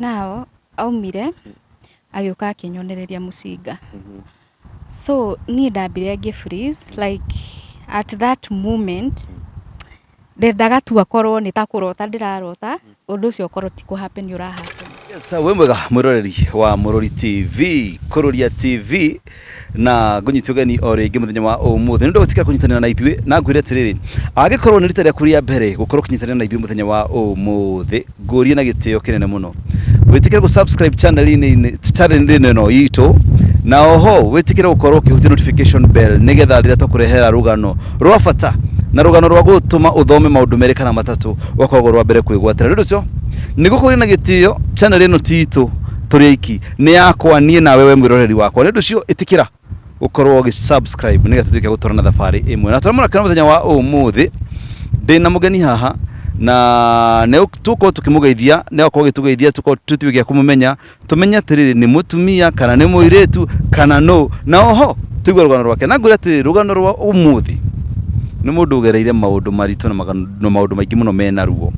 Now aumire agĩũka akĩnyonereria mũcinga. So niĩ ndambire ngĩ freeze like at that moment ndendaga tu akorwo nĩ ta kũrota ndĩrarota ũndũ ũcio ũkorwo ti kũ happen ũra happen. Yes, sir, wĩ mwega mwĩroreri wa Mũrũri TV, Kũrũria TV. na ngũnyiti ũgeni o rĩngĩ mũthenya wa ũmũthĩ nĩ ũndũ wa gwĩtĩkĩra kũnyitanĩra na ithuĩ na ngwĩre atĩrĩrĩ angĩkorwo nĩ rita rĩaku rĩa mbere gũkorwo ũkĩnyitanĩra na ithuĩ mũthenya wa ũmũthĩ ngũrie na gĩtĩo kĩnene mũno wĩtĩkĩre gũ-subscribe channel-inĩ channel-inĩ ĩno itũ na oho wĩtĩkĩre gũkorwo ũkĩhutia notification bell nĩgetha rĩrĩa twakũrehera rũgano rwa bata na rũgano rwa gũtũma ũthome maũndũ merĩ kana matatũ ũgakorwo rwa mbere kwĩgwatĩra nĩ ũndũ ũcio nĩ gũkũria na gĩtĩo channel ĩno ti itũ tũrĩ aiki nĩ yakwa niĩ nawe we mwĩroreri wakwa nĩ ũndũ ũcio ĩtĩkĩra gũkorwo ũgĩsubscribe nĩgetha tũtuĩke gũtwara na thabarĩ ĩmwe na tũrĩa mũrakĩona mũthenya wa ũmũthĩ ndĩ na mũgeni haha na nĩ tũkorwo tũkĩmũgeithia nĩ agakorwo gĩtũgeithia tũkorwo tũtiwe gĩa kũmũmenya tũmenye atĩrĩrĩ nĩ mũtumia kana nĩ mũirĩtu kana nũ na oho tũigue rũgano rwake na ngwĩra atĩrĩrĩ rũgano rwa ũmũthĩ nĩ mũndũ ũgereire maũndũ maritũ na maganu- na maũndũ maingĩ mũno mena ruo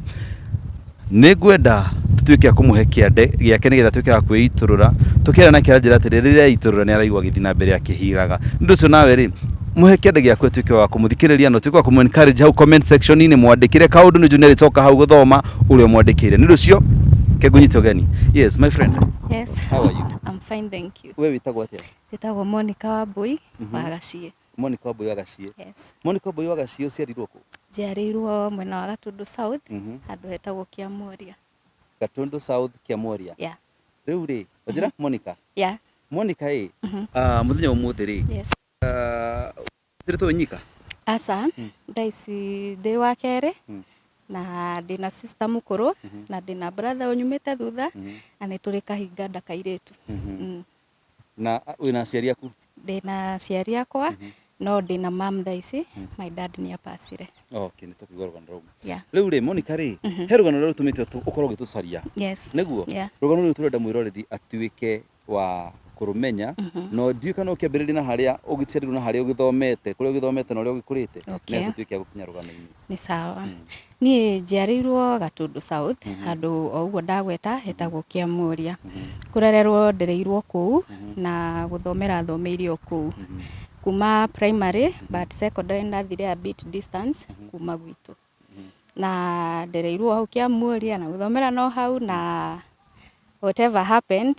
Nĩ ngwenda tũtuĩke a kũmũhe kĩande gĩake nĩgetha tuĩke a kwĩitũrũra tũkĩara nake anjĩra atĩrĩ rĩrĩa aitũrũra nĩ araigua gĩthiĩ na mbere akĩhiraga nĩ ũcio nawe rĩ mũhe kĩande gĩaku atuĩke wa kũmũthikĩrĩria na ũtuĩke wa kũmũ encourage hau comment section inĩ mwandĩkĩre kaũndũ nĩ junior ĩcoka hau gũthoma ũrĩa ũmwandĩkĩire nĩ ũcio kegũnyite ũgeni yes my friend Yes, how are you I'm fine, thank you. we wĩtagwo atĩa Njĩtagwo Monica Wambui wa Gaciĩ. Monica Wambũi wa Gaciĩ. Yes. Monica Wambũi wa Gaciĩ ũciarirwo kũ? Njiarĩirwo mwena wa Gatũndũ South, Mhm. handũ hetagwo Kĩamuoria. Gatũndũ South Kĩamuoria. Yeah. Rĩu rĩ, njĩra Monica. Yeah. Monica ĩ, Mhm. ah, mũthenya wa ũmũthĩ rĩ, Yes. ah, ũciarĩtwo wĩ nyika? Aca, Mm. thaa ici ndĩ wa kerĩ Mm. na ndĩ na sister mũkũrũ Mhm. na ndĩ na brother ũnyumĩte thutha Mhm. na nĩ tũrĩ kahinganda kairĩtu. Mhm. Mm. Na wĩ na aciari aku? Ndĩ na aciari akwa no ndĩ na mam thaa ici, my dad nĩ apacire. Okay, nĩ tũkũigua rũgano rũu. Yeah. Rĩu rĩ Monica rĩ, he rũgano rũrĩa rũtũmĩte ũtũ- ũkorwo ũgĩtũcaria. Yes. Nĩguo? Yeah. Rũgano rũrũ tũrenda mwĩroreri atuĩke wa kũrũmenya na ndiũĩ kana ũkĩambĩrĩria na harĩa ũgĩciarirwo na harĩa ũgĩthomete, kũrĩa ũgĩthomete na ũrĩa ũgĩkũrĩte, Okay. nĩgetha tũtuĩke a gũkinya rũgano-inĩ. Nĩ sawa. Niĩ njiarĩirwo Gatũndũ South, handũ o ũguo ndagweta hetagwo Kĩamũria. Kũrererwo ndereirwo kũu na gũthomera thomeire o kũu. Kuma primary but secondary nĩndathire a bit distance kuma gwitũ. Na ndereirwo o hau Kĩamũria na gũthomera no hau na whatever happened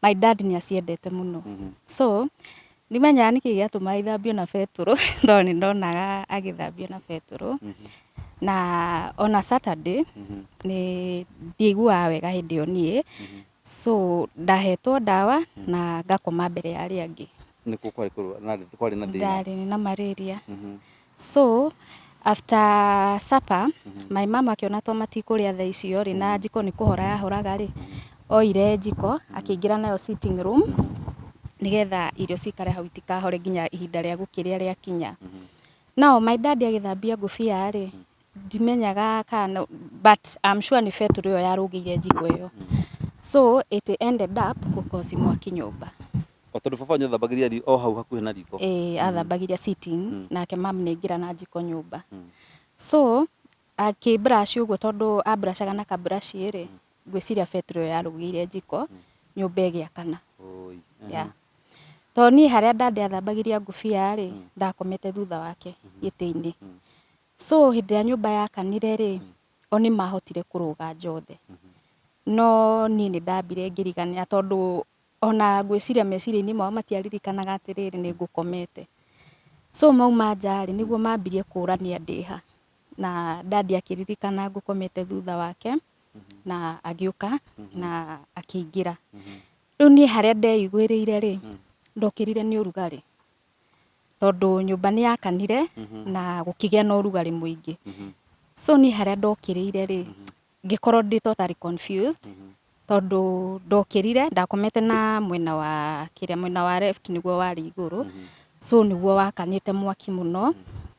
My dad nĩ aciendete mũno. So, ndimenyaga nĩkĩ gĩatũmaga ithambio na betũrũ, tondũ nĩ ndonaga agĩthambio na betũrũ. Na ona Saturday, nĩ ndiaiguaga wega hĩndĩ ĩyo niĩ. So, ndahetwo ndawa, na ngakoma mbere ya arĩa angĩ. Nĩkuo kwarĩ kũrũa, kwarĩ na thĩna. Ndarĩ na marĩria. So after supper my mom akĩona to matikũrĩa thaa icio rĩ na njiko nĩ kũhora yahoraga rĩ oire njiko akĩingĩra nayo sitting room nĩgetha irio cikare hau itikahore nginya ihinda rĩa gũkĩrĩa rĩakinya nao my dad agĩthambia ngũbia rĩ Ndimenyaga kana nĩ but I'm sure nĩ betũrũ ĩyo yarũngĩire njiko ĩyo. So it ended up gũ cause mwaki nyũmba. O tondũ baba wanyu athambagĩria ri- o hau hakuhĩ na riko. Ĩĩ athambagĩria sitting, nake mum nĩ aingĩra na njiko nyũmba. So akĩ brush ũguo tondũ a brush aga na ka brush rĩ, ngwĩciria betũrũ ĩyo yarũgĩire njiko, nyũmba ĩgĩakana. Ũũi. Yeah. Tondũ niĩ harĩa daddy athambagĩria ngũbia rĩ, ndakomete thutha wake gĩtĩ-inĩ. So hĩndĩ ĩrĩa nyũmba yakanire rĩ, o nĩmahotire kũrũga njothe. No niĩ nĩndambire ngĩriganĩra tondũ ona ngwĩciria meciria-inĩ mao matiaririkanaga atĩrĩrĩ nĩngũkomete. So mauma nja rĩ, nĩguo mambirie kũrania ndĩha. Na dad akĩririkana ngũkomete thutha wake, na agĩũka na akĩingĩra. Rĩu niĩ harĩa ndeiguĩrĩire rĩ, ndokĩrire nĩ ũrugarĩ. tondũ nyũmba nĩ yakanire na gũkĩgĩa na ũrugarĩ mũingĩ so niĩ harĩa ndokĩrĩire rĩ ngĩkorwo ndĩ totally confused tondũ ndokĩrire ndakomete na mwena wa kĩrĩa mwena wa left nĩguo warĩ igũrũ so nĩguo wakanĩte mwaki mũno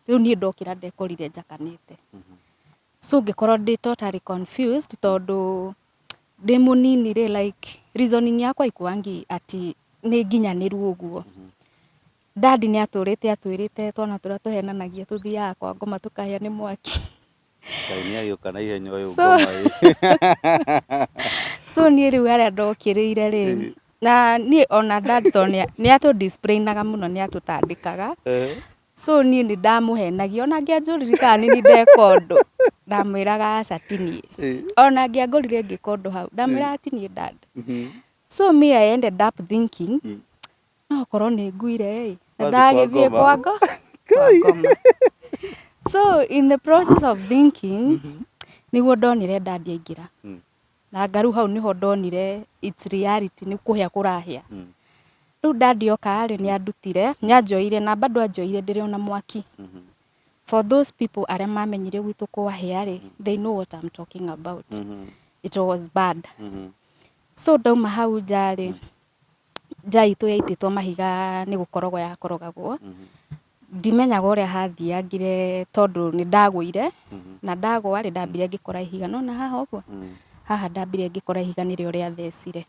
rĩu niĩ ndokĩra ndekorire njakanĩte so ngĩkorwo ndĩ totally confused tondũ ndĩ mũnini rĩ like reasoning yakwa ikuangi ati nĩ nginyanĩru ũguo dad nĩ atũrĩte atwĩrĩte twana tũrĩa tũhenanagia tũthiaga kwa ngoma tũkahĩa nĩ mwaki Ngai nĩ agĩũka na ihenya ũyũ So- ngoma ĩ. so niĩ rĩu harĩa ndokĩrĩire rĩ na niĩ ona dad to nĩ atũ disciplinaga mũno nĩ atũtandĩkaga Eh, So niĩ nĩ ndamũhenagia ona angĩanjũrire kana nĩ niĩ ndeka ũndũ ndamwĩraga aca ti niĩ Eh. ona angĩangorire ngĩka ũndũ hau ndamwĩraga ti niĩ dad Mhm. so me I ended up thinking Mm. no okorwo nĩ nguire ĩ na Wathiĩ kwa ndagĩthiĩ ngoma. kwa ngo- kwa ngoma so in the process of thinking nĩguo ndonire dad aingĩra Mm. Na ngaru hau nĩho ndonire it's reality nĩ kũhĩa kũrahĩa. Rĩu dad oka rĩ, nĩ andutire, nĩ anjoeire na bado anjoeire ndĩrĩ ona mwaki. For those people arĩa mamenyire gwitũ kwahĩa rĩ, they know what I'm talking about. It was bad. So ndauma hau nja rĩ, nja itũ yaitĩtwo mahiga nĩ gũkorogwo yakorogagwo. Ndimenyaga ũrĩa hathiangire tondũ nĩ ndagũire, na ndagwa rĩ ndambire ngĩkora ihiga. Nĩ wona haha ũguo? Haha ndambire ngĩkora ihiga nĩrĩo rĩathecire.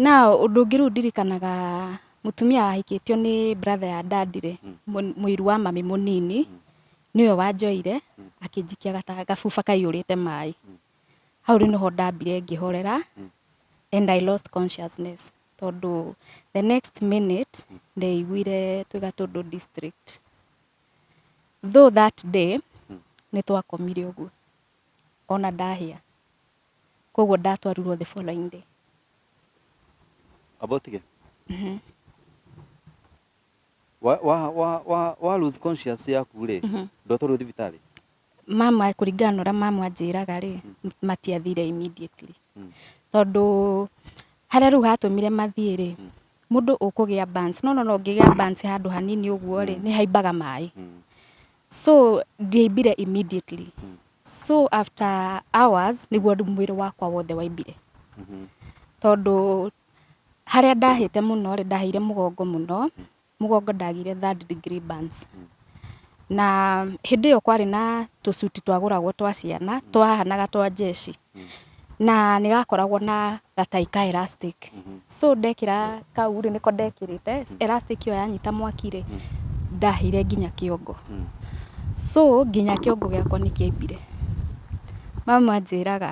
Na ũndũ ũngĩ rĩu ndirikanaga mũtumia wahikĩtio nĩ brother ya dad rĩ, mũiru wa mami mũnini, nĩwe wanjoire akĩnjikia gacuba kaihũrĩte maĩ. Hau rĩu nĩho ndambire ngĩhorera and I lost consciousness. tondũ the next minute ndaiguire twĩ Gatũndũ district. Though that day nĩ twakomire ũguo ona ndahĩa, koguo ndatwarirwo the following day. Abotige? wa wa wa wa wa lose conscious yaku rĩ ndotwarwo thibitarĩ mama kũringana na ũrĩa mama anjĩraga rĩ matiathire immediately Mm. tondũ harĩa rĩu hatũmire mathiĩ rĩ mũndũ ũkũgĩa bans no no no ngĩgĩa bans handũ hanini ũguo rĩ nĩ haimbaga maĩ Mm. so ndiaimbire immediately so after hours nĩguo mwĩrĩ wakwa wothe waimbire Mhm. tondũ Harĩa ndahĩte mũno rĩ, ndahĩire mũgongo mũno, mũgongo ndagĩire third degree burns. Na hĩndĩ ĩyo kwarĩ na tũcuti twagũragwo twa ciana twahanaga twa njeci, na nĩ gakoragwo na gatai ka elastic. So ndekĩra kau rĩ, nĩko ndekĩrĩte, elastic ĩyo yanyita mwaki rĩ, ndahĩire nginya kĩongo. So nginya kĩongo gĩakwa nĩ kĩaimbire. Mama anjĩraga...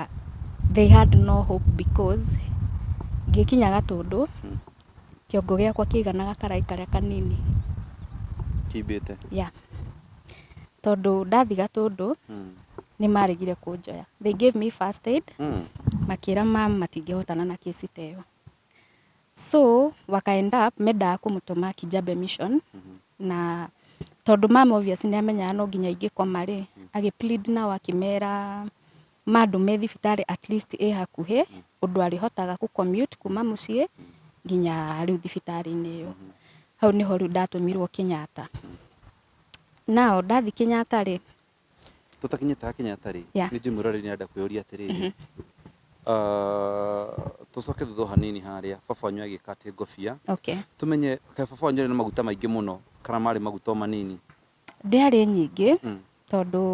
They had no hope because ngĩkinya Gatũndũ, kĩongo gĩakwa kĩaiganaga karaĩ karĩa kanini. Kĩimbĩte? Yeah. Tondũ ndathi Gatũndũ, nĩ maregire kũnjoya. They gave me first aid, makĩra ma'am matingĩhotana na case ta ĩyo. So, waka end up mendaga kũmũtũma Kijabe Mission, na tondũ ma'am obvious nĩ amenyaga no nginya ingĩkoma rĩ, agĩ plead nao akĩmera, Mandũme thibitarĩ at least ĩ hakuhĩ ũndũ arĩhotaga kũ commute kuma mũciĩ nginya rĩu thibitarĩ-inĩ ĩyo. Hau nĩho rĩu ndatũmirwo Kenyatta. Now ndathiĩ Kenyatta rĩ, Tũtakinyĩte ha Kenyatta rĩ, Yeah. nĩ njũĩ mwĩroreri nĩ arenda kwĩyũria atĩrĩrĩ, ah, tũcoke thutha o hanini harĩa baba wanyu agĩka atĩ ngũbia, okay. tũmenye kaĩ baba wanyu arĩ na maguta maingĩ mũno kana marĩ maguta o manini. Ndĩarĩ nyingĩ tondũ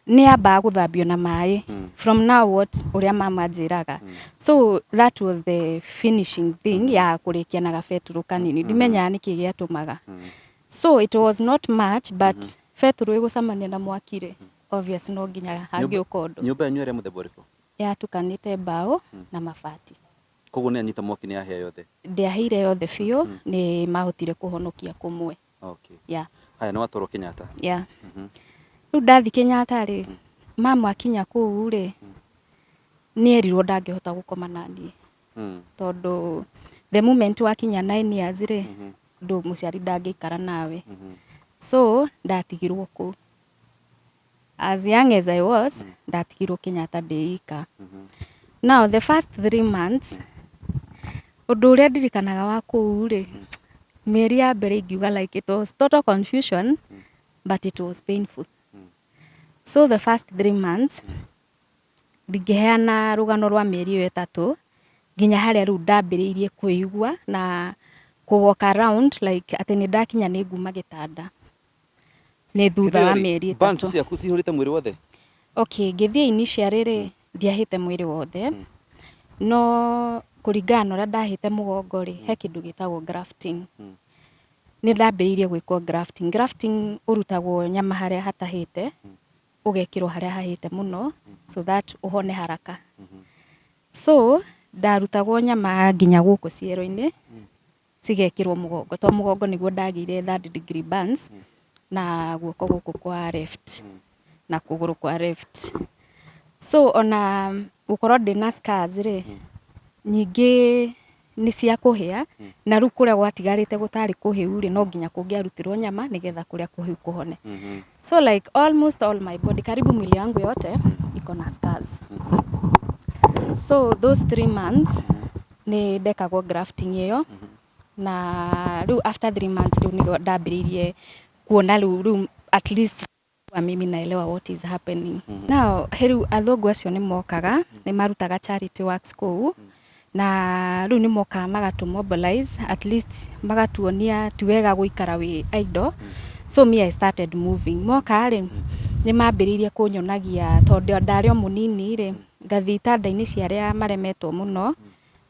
nĩ yambaga gũthambio na maĩ from now what ũrĩa mama anjĩraga. So that was the finishing thing ya kũrĩkia na gabetũrũ kanini. Ndimenyaga nĩkĩ gĩatũmaga. So it was not much but betũrũ ĩgũcemania na mwaki rĩ, obvious no nginya hangĩũka ũndũ. Nyũmba yanyu yarĩ ya mũthemba ũrĩkũ? Yatukanĩte mbaũ na mabati. Kwoguo nĩ yanyita mwaki nĩ yahĩa yothe? Ndĩahĩire yothe biũ, nĩ mahotire kũhonokia kũmwe. Okay. Yeah. Haya, nĩ watwarwo Kenyatta. Yeah. Mhm. Rĩu ndathi Kenyatta rĩ, mama akinya kũu rĩ, nĩerirwo ndangĩhota gũkoma na niĩ Mm. tondũ the moment wakinya nine years rĩ, Mhm. ndũ mũciari ndangĩikara nawe. Mhm. So ndatigirwo kũu. as young as I was mm. ndatigirwo Kenyatta ndĩika mm -hmm. now the first three months ũndũ ũrĩa ndirikanaga wa kũu rĩ mm. mĩeri ya mbere ingiuga like it was total confusion mm. but it was painful mm. so the first three months mm. ndingĩheana rũgano rwa mĩeri ĩyo ĩtatũ nginya harĩa rĩu ndambĩrĩirie kwĩigua na kũ walk around like atĩ nĩ ndakinya nĩ nguma gĩtanda nĩ thutha wa mĩeri ĩtatũ. Bands ciaku cihũrĩte mwĩrĩ wothe? Okay, ngĩthiĩ initially rĩ, hmm. ndiahĩte mwĩrĩ wothe. Hmm. No kũringana na ũrĩa ndahĩte mũgongo rĩ, he hmm. kĩndũ gĩtagwo grafting. Nĩ ndambĩrĩirie gwĩkwo grafting. Grafting ũrutagwo nyama harĩa hatahĩte, ũgekĩrwo harĩa hahĩte mũno, so that ũhone haraka. So, ndarutagwo nyama nginya gũkũ ciero-inĩ. cigekĩrwo mũgongo to mũgongo nĩguo ndagĩire third degree burns na guoko gũkũ kwa left na kũgũrũ kwa left so ona gũkorwo ndĩna scars rĩ nyingĩ nĩ cia kũhĩa na rĩu kũrĩa gwatigarĩte gũtarĩ kũhĩu rĩ no nginya kũngĩarutirwo nyama nĩgetha kũrĩa kũhĩu kũhone so like almost all my body karibu mwili yangu yote iko na scars so those three months Nĩ ndekagwo grafting ĩyo na rĩu after three months rĩu nĩguo ndambĩrĩirie kuona rĩu rĩu at least kuwa mimi naelewa what is happening. Now rĩu athũngũ acio nĩ mokaga, nĩ marutaga charity works kũu na rĩu nĩ mokaga magatu mobilize at least magatuonia ti wega gũikara wĩ idle. So me I started moving. Moka rĩ, nĩ mambĩrĩirie kũnyonagia tondũ ndarĩ o mũnini rĩ, Ngathiĩ itanda-inĩ cia arĩa maremetwo mũno,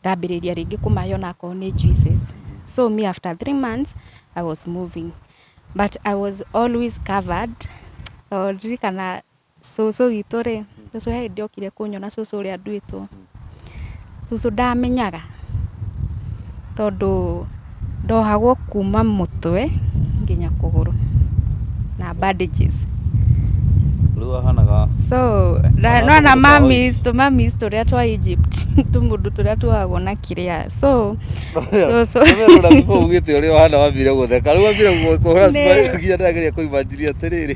ngambĩrĩria rĩngĩ kũmahe onakorwo nĩ juices. So me after three months, I was moving. But I was always covered. Tondũ ndirikana cũcũ witũ rĩ, cũcũ he hĩndĩ okire kũnyona cũcũ ũrĩa nduĩtwo. Cũcũ ndamenyaga tondũ ndohagwo kuma mũtwe nginya kũgũrũ na bandages. So nĩwona mummies, tũ mummies tũrĩa twa Egypt tũmũndũ tũrĩa tuohagwo na kĩrĩa so cũcũ Nĩ.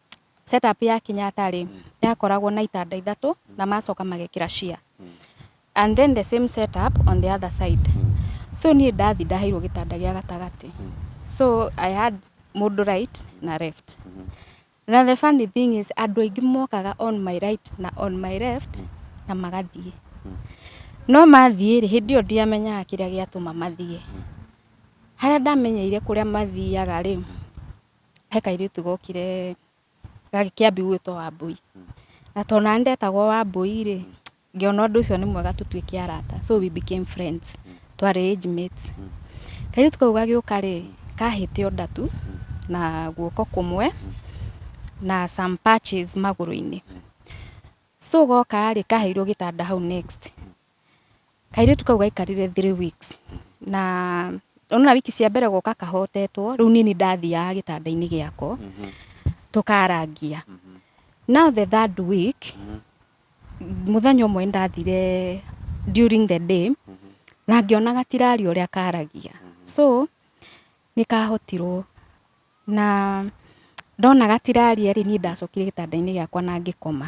Set up ya Kenyatta rĩ, yakoragwo na itanda ithatũ na macoka magekĩra chair. And then the same set up on the other side. So niĩ ndathi ndaheirwo gĩtanda gĩa gatagatĩ. So I had mũndũ right na left. Na the funny thing is andũ aingĩ mokaga on my right na on my left na magathiĩ. No mathiĩ rĩ, hĩndĩ ĩyo ndiamenyaga kĩrĩa gĩatũma mathiĩ. Harĩa ndamenyeire kũrĩa mathiaga rĩ, he kairĩtu gokire gagĩ- kĩambi gwĩtwo Wambũi. Na tondũ nani ndetagwo Wambũi rĩ, ngĩona ũndũ ũcio nĩ mwega tũtuĩke arata. So we became friends. Twarĩ age mates. Kairĩtu kau gagĩũka rĩ, kahĩte ũnda tu, na guoko kũmwe, na some patches magũrũ-inĩ. So goka rĩ, kaheirwo gĩtanda hau next. Kairĩtu kau gaikarire three weeks na ũnona wiki cia mbere goka kahotetwo, rĩu niĩ nĩ ndathiaga gĩtanda-inĩ gĩako tũkarangia. Now the third week mũthenya ũmwe nĩ ndathire during the day na ngĩona gatiraria ũrĩa karagia. So nĩ kahotirwo na ndona gatiraria rĩ, niĩ ndacokire gĩtanda-inĩ gĩakwa na ngĩkoma.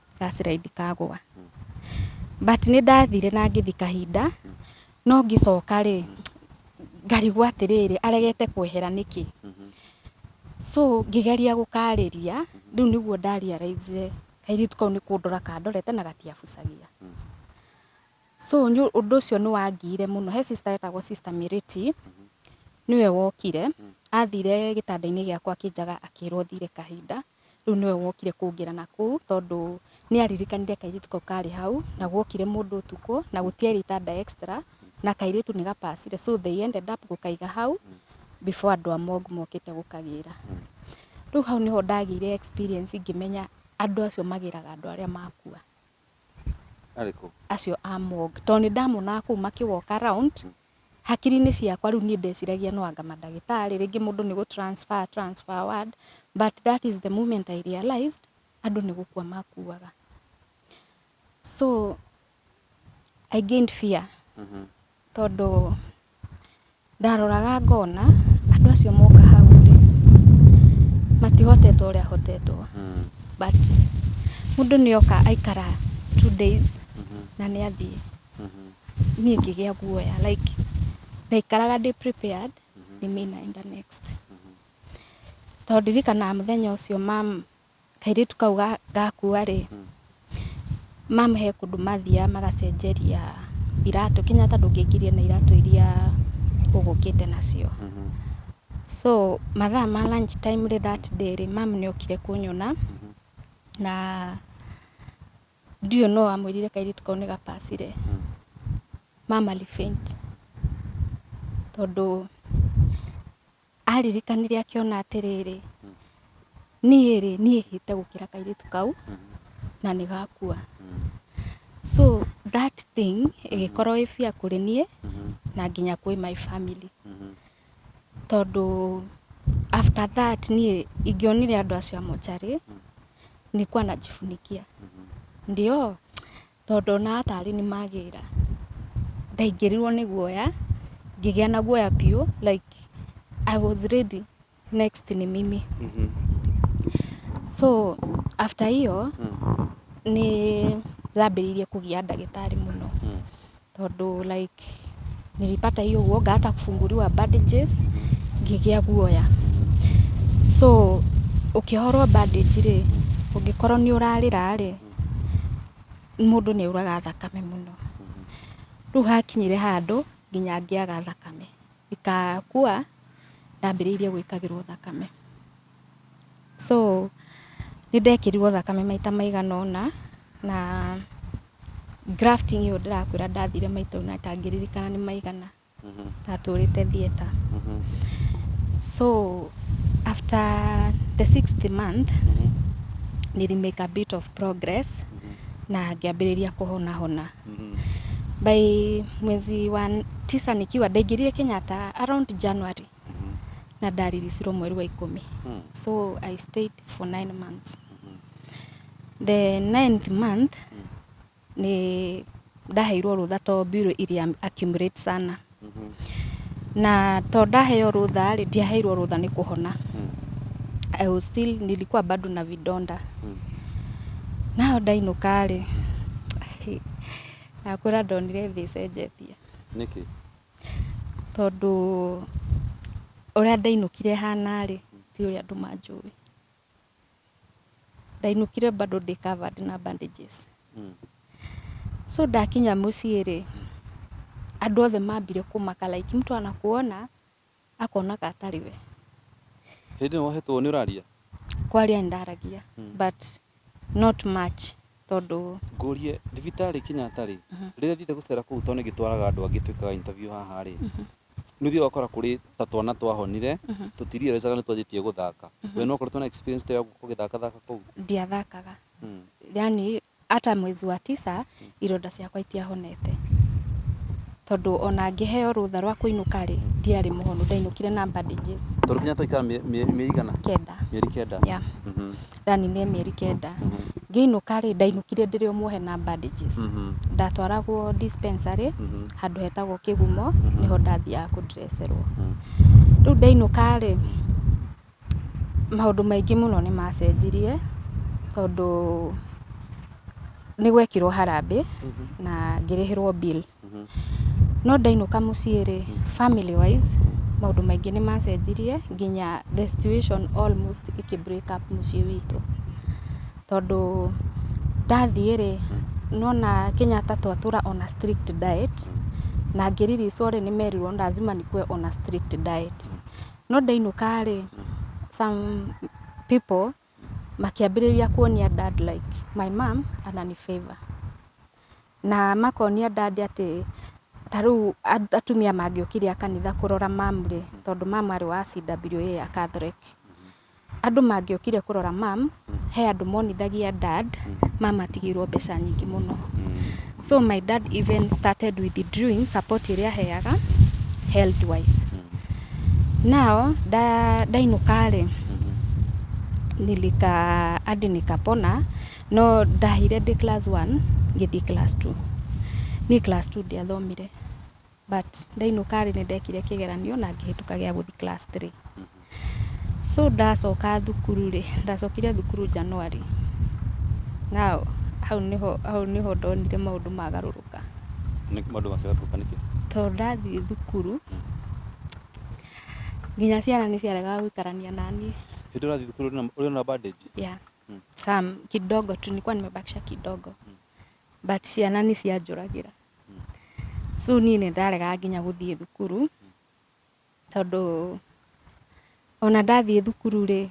ngacĩra ndikagwa but nĩ ndathire na ngĩthi kahinda no ngĩcoka rĩ ngarigwo atĩrĩrĩ aregete kwehera nĩkĩ so ngĩgeria gũkarĩria rĩu nĩguo ndarealizire kairĩtu kau nĩ kũndora kandorete na gatiabucagia so ũndũ ũcio nĩ wangiire mũno he sister wetagwo sister Mĩrĩti nĩwe wokire athire gĩtanda-inĩ gĩakwa akĩnjaga akĩrwo thiire kahinda rĩu nĩwe wokire kũngera na kũu tondũ nĩ aririkanire kairĩtu kau karĩ hau na gwokire mũndũ ũtukũ na gũtiarĩ itanda extra na kairĩtu nĩ gapacire so they ended up gũkaiga hau before andũ a mogu mokĩte gũkagĩra. Rĩu hau nĩho ndagĩire experience ngĩmenya andũ acio magĩraga andũ arĩa makua Arĩkũ? acio a mogu tondũ nĩ ndamonaga kũu makĩwalk around hakiri-inĩ ciakwa rĩu niĩ ndeciragia no anga mandagĩtarĩ, rĩngĩ mũndũ nĩ gũ transfer a transfer ward, but that is the moment I realised andũ nĩ gũkua makuaga. So I gained fear tondũ ndaroraga ngona andũ acio moka hau rĩ, matihotetwo ũrĩa hotetwo but mũndũ nĩ oka aikara two days na nĩ athiĩ. niĩ ngĩgĩa guoya like ndaikaraga ndĩ prepared nĩ mĩ naenda next tondũ ndirikanaga mũthenya ũcio mam kairĩtu kau ga- gakua rĩ mam he kũndũ mathiaga magacenjeria iratũ kenyatta ndũngĩingĩria na iratũ iria ũgũkĩte nacio so mathaa ma lunch time rĩ that day rĩ mam nĩ okire kũnyona na Ndiũĩ no amwĩrire kairĩtu kau nĩ gabacire. Mama alifaint. Tondũ aririkanire akĩona atĩrĩrĩ, niĩ rĩ, niĩ hĩte gũkĩra kairĩtu kau na nĩ gakua. So that thing ĩgĩkorwo ĩ fear kũrĩ niĩ na nginya kwĩ my family. tondũ after that niĩ ingĩonire andũ acio a mocarĩ nikuwa najifunikia ndio tondũ onaga tarĩ niĩ magĩra ndaingĩrirwo nĩ guoya ngĩgĩa na guoya biũ like I was ready next ni mimi so after hiyo nĩ ndambĩrĩirie kũgia ndagĩtarĩ mũno Tondũ like nilipata hiyo uoga hata kufunguliwa bandages ngĩgĩa guoya. So ũkĩhorwo bandage rĩ, ũngĩkorwo nĩ ũrarĩra rĩ, mũndũ nĩ auraga thakame mũno. Rĩu hakinyire handũ nginya ngĩaga thakame, ikakua ndambĩrĩirie gwĩkagĩrwo thakame. So nĩ ndekĩrirwo thakame maita maigana ũna na grafting ĩyo ndĩrakwĩra ndathire maita ũna itangĩririkana nĩ maigana ndatũrĩte theater. So after the sixth month nili make a bit of progress na ngĩambĩrĩria kũhona hona. By mwezi wa tisa nikiwa ndaingĩrire Kenyatta around January. na ndaririsirwo mweri wa ikũmi so i stayed for nine months the ninth month nĩ ndaheirwo rũtha to mbirũ iria accumulate sana na to ndaheo rũtha rĩ ndiaheirwo rũtha nĩ kũhona I was still nilikuwa bado na vidonda nao ndainũka rĩ nakwĩra ndonire thĩ ĩcenjetie nĩkĩ Tondũ ũrĩa ndainũkire hana rĩ, ti ũrĩa andũ manjũĩ. Ndainũkire bado ndĩ covered na bandages. So ndakinya mũciĩ rĩ, andũ othe mambire kũmaka like mtu anakuona akonaga atarĩ we hĩndĩ ĩyo wahetwo nĩ ũraria kwaria ndaragia hmm. but not much tondũ ngũrie thibitarĩ Kenyatta rĩ mhm. rĩrĩa thiĩte gũcera kũu tondũ nĩngĩtwaraga andũ angĩ twĩkaga interview haha rĩ mhm. nĩ ũthiaga ũgakora kũrĩ ta twana twahonire mhm. tũtirirecaga nĩ twanjĩtie gũthaka we no ũkoretwo na experience ta ya gũthakathaka kũu ndiathakaga hmm. yani Ata mwezi wa tisa ironda ciakwa itiahonete tondũ ona ngĩheo rũtha rwa kũinũka rĩ ndiarĩ mũhonu ndainũkire na bandages. Tondũ kinya twaikara mĩeri igana? Kenda. Mĩeri kenda? Yeah. Mhm. Ndaninire mĩeri kenda. Ngĩinũka rĩ ndainũkire ndĩrĩ o muohe na bandages. Mhm. Ndatwaragwo dispensary Mhm. handũ hetagwo kĩgumo nĩho ndathiaga kũ dresserwo. Rĩu ndainũka rĩ Maũndũ maingĩ mũno nĩ macenjirie, tondũ nĩ gwekirwo harambĩ na ngĩrĩhĩrwo bill. No ndainũka mũciĩ rĩ, family wise maũndũ maingĩ nĩ macenjirie nginya the situation almost ĩkĩ break up mũciĩ witũ. Tondũ ndathiĩ rĩ, nĩ wona Kenyatta twatũra on a strict diet na ngĩriricwo rĩ, nĩ merirwo lazima nĩkue on a strict diet. No ndainũka-rĩ, some people makĩambĩrĩria kuonia dad like my mum anani-favour. Na makonia dad atĩ ta rĩu atumia mangĩũkire a kanitha kũrora mum-rĩ, tondũ mum arĩ wa CWA, a Catholic. Andũ mangĩokire kũrora mum, he andũ monithagia dad, mum atigĩirwo mbeca nyingĩ mũno. So my dad even started withdrawing support ĩrĩa aheaga health wise. Now ndainũka rĩ, nilika hadi nikapona, no ndahire ndĩ class one ngĩthiĩ class two. Niĩ class two ndiathomire. But ndainũka rĩ, nĩ ndekire kĩgeranio na ngĩhĩtũka gĩa gũthiĩ class three. So ndacoka thukuru rĩ, ndacokire thukuru January. Now, hau nĩho, hau nĩho ndonire maũndũ magarũrũka. Nĩ maũndũ makĩgarũrũka nĩkĩ? Tondũ ndathiĩ thukuru, nginya ciana nĩ ciaregaga gũikarania na niĩ. Hĩndĩ ũrathiĩ thukuru ũrĩ na, ũrĩ na bandage? Yeah. Some, kidogo tu, nilikuwa nimebakisha kidogo. But ciana nĩ cianjũragĩra. So niĩ nĩ ndaregaga nginya gũthiĩ thukuru tondũ ona ndathiĩ thukuru rĩ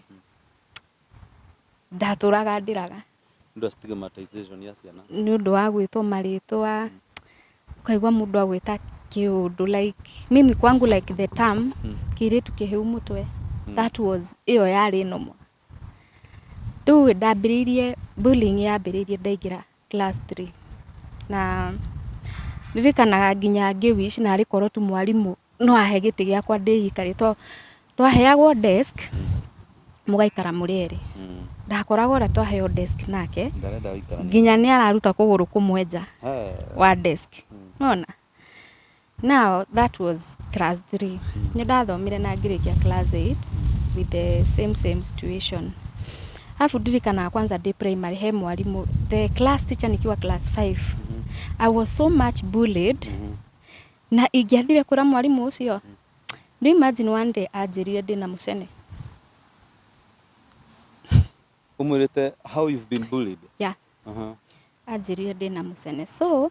ndatũraga ndĩraga Nĩ ũndũ wa stigmatization ya ciana. nĩ ũndũ wa gwĩtwo marĩtwa ũkaigua mũndũ agwĩta kĩũndũ like mimi kwangu like the term Mm. kĩirĩtu kĩhĩu mũtwe Mm. that was ĩyo yarĩ nomo rĩu ndambĩrĩirie bullying yambĩrĩirie ndaingĩra class three na ndirikanaga nginya ngĩ wish narĩ korwo tu mwarimũ no ahe gĩtĩ gĩakwa ndĩikare to twaheagwo desk mũgaikara mũrĩ erĩ Mm. ndakoraga ũrĩa twaheo desk nake Ndarenda ũikara. nginya nĩ araruta kũgũrũ kũmwe nja He. wa desk nona Now that was class 3 nĩ ndathomire na ngĩrĩkia class 8 with the same same situation alafu ndirikanaga kwanza ndĩ primary he mwarimũ the class teacher nikiwa class 5 I was so much bullied na ingĩathire kũra mwarimũ ũcio do you imagine one day anjĩrire ndĩ na mũcene umwirite how you've been bullied yeah Aha. anjĩrire ndĩ na mũcene so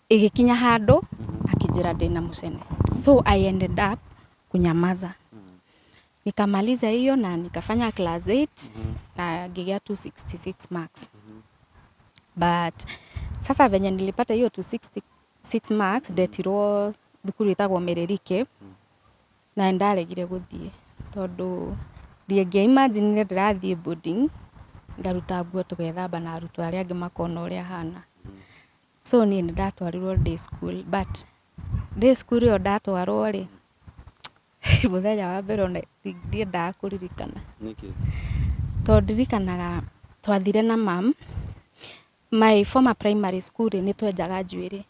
Ĩgĩkinya handũ akĩnjĩra ndĩna mũcene, so I ended up kunyamaza nikamaliza hiyo na nikafanya class 8 na ngigea 266 marks but sasa venye nilipata hiyo 266 marks ndetirwo thukuru ĩtagwo Mererike na ndaregire gũthiĩ tondũ ndingĩa imagine ndĩrathiĩ boarding ngaruta nguo tũgethamba na arutwo arĩa angĩ makona ũrĩa hana So niĩ nĩ ndatwarirwo day school but day school ĩyo ndatwarwo rĩ, mũthenya wa mbere ona ndiendaga kũririkana. Nĩkĩ? Tondũ ndirikanaga twathire na mum, my former primary school rĩ, nĩ twenjaga njuĩrĩ.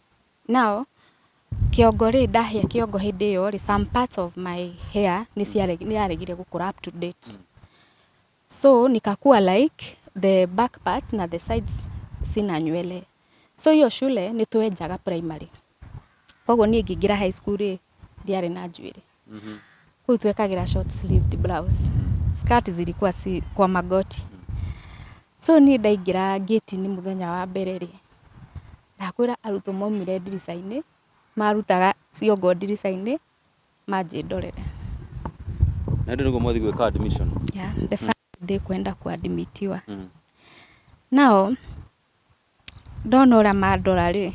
Now, kĩongo rĩ, ndahĩa kĩongo hĩndĩ ĩyo rĩ, some parts of my hair nĩ yaregire gũkũra up to date. So nikakua like the back part na the sides sina nywele. So hiyo shule nĩ twenjaga primary. Koguo niĩ ngĩingĩra high school rĩ ndiarĩ na njuĩrĩ. Kũu twekagĩra short sleeved blouse. Skirt zilikuwa si kwa magoti. So niĩ ndaingĩra gate-inĩ mũthenya wa mbere rĩ ndakwĩra arutwo maumire ndirica-inĩ marutaga ciongo ndirica-inĩ Maji ndorere. Na ndio niguo mwathi gwika admission. Yeah, the first day kwenda kuadmitiwa. Mm. Nao ndona ũrĩa mandora rĩ,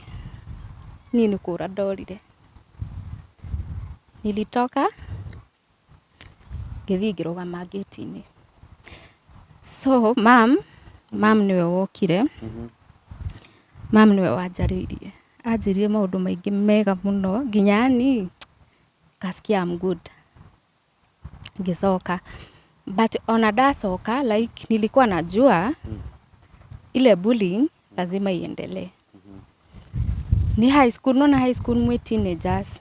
niĩ nĩ kũra ndorire. Nilitoka ngĩthiĩ ngĩrũgama ngĩti-inĩ so mam mam nĩwe wokire mam nĩwe wanjarĩirie anjĩrire maũndũ maingĩ mega mũno nginya yani ngasikia I'm good ngĩcoka but ona ndacoka like nilikuwa najua ile bullying lazima iendelee. Ni high school, naona high school mwe teenagers.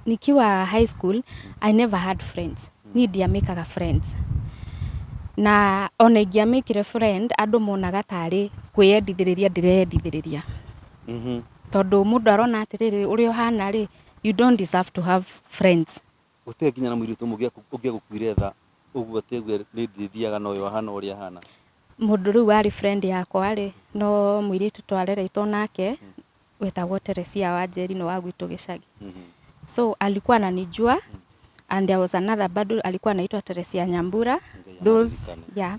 Nikiwa high school, I never had friends. Ni ndiamekaga friends. Na ona ingiamekire friend, andũ monaga tarĩ kwĩyendithĩrĩria ndĩreyendithĩrĩria. Tondũ mũndũ arona atĩrĩrĩ, ũrĩa ũhana rĩ, you don't deserve to have friends. Gũtirĩ nginya na mũirĩtu ũmwe ũngĩa- ũngĩagũkuire tha ũguo atĩ auge nĩ ndĩthiaga na ũyũ ahana ũrĩa ahana mũndũ rĩu warĩ friend yakwa rĩ no mũirĩtu twareretwo nake wetagwo Teresia wa Njeri no wa gwitũ gĩcagi so alikuwa ananijua and there was another bado alikuwa anaitwa Teresia Nyambura those Nikaririkana. yeah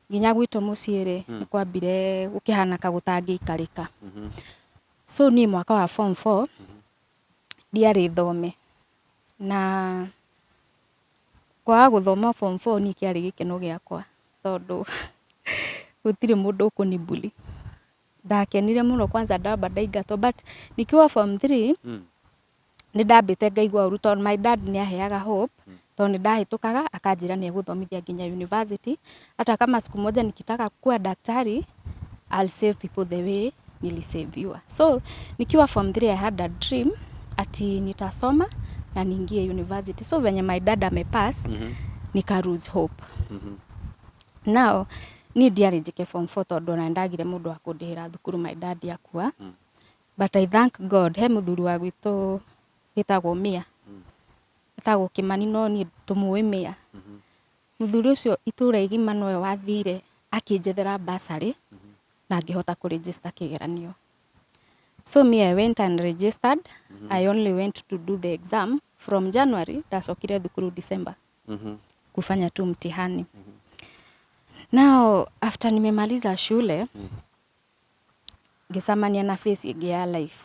Nginya gwitũ mũciĩ rĩ, nĩ kwambire gũkĩhana ta gũtangĩikarĩka. So niĩ mwaka wa form four, ndiarĩ thome. Na kwaga gũthoma form four niĩ kĩarĩ gĩkeno gĩakwa tondũ gũtirĩ mũndũ ũkũni bully. Ndakenire mũno kwanza ndamba ndaingatwo but nikiwa form three, Nĩ ndambĩte ngaigua ũru tondũ my dad nĩ aheaga hope tondũ nĩ ndahĩtũkaga akanjĩra nĩ egũthomithia nginya university. Hata kama siku moja nikitaka kuwa daktari I'll save people the way niliseviwa. So nikiwa form 3 I had a dream ati nitasoma na niingie university. So venye my dad amepass nika lose hope. Now niĩ ndiarĩ njĩke form 4 tondũ ona nĩ ndagire mũndũ wa kũndĩhĩra thukuru my dad akua. But I thank God, he mũthuri wa gwitũ wĩtagwo Mia, etagwo Kĩmani no niĩ tũmũĩ Mia. Mũthuri ũcio itũũra igima nowe wathire akĩnjethera bursary na ngĩhota kũ register kĩgeranio. So me I went and registered, I only went to do the exam from January ndacokire thukuru December kufanya tu mtihani. Now after nimemaliza shule, ngĩcamania na face ĩngĩ ya life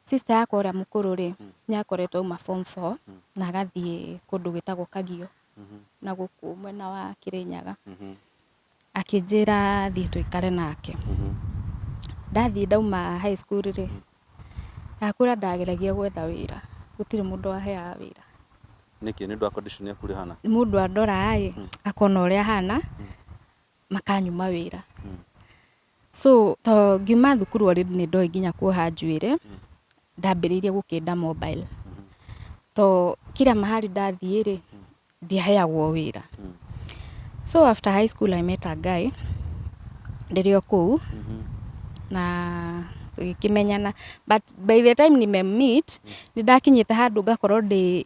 sister yakwa ũrĩa mũkũrũ rĩ nĩ akoretwo auma form four na agathiĩ kũndũ gwĩtagwo kagio na gũkũ mwena wa kĩrĩnyaga akĩnjĩra thiĩ tũikare nake ndathiĩ ndauma high school rĩ ndakũra ndageragia gwetha wĩra gũtirĩ mũndũ waheaga wĩra nĩkĩ nĩ ũndũ wa condition yaku ũrĩa ũhana mũndũ andoraga ĩ akona ũrĩa hana makanyuma wĩra mm. so to ngiuma thukuru already nĩ ndoĩ nginya kuoha njuĩrĩ mm. ndambĩrĩirie gũkĩnda mobile mm-hmm. to kira mahali ndathiĩ rĩ mm. ndiaheagwo wĩra mm. so after high school I met a guy ndĩrĩ o kũu mm-hmm. na tũgĩkĩmenyana but by the time nime meet nĩ ndakinyĩte handũ ngakorwo ndĩ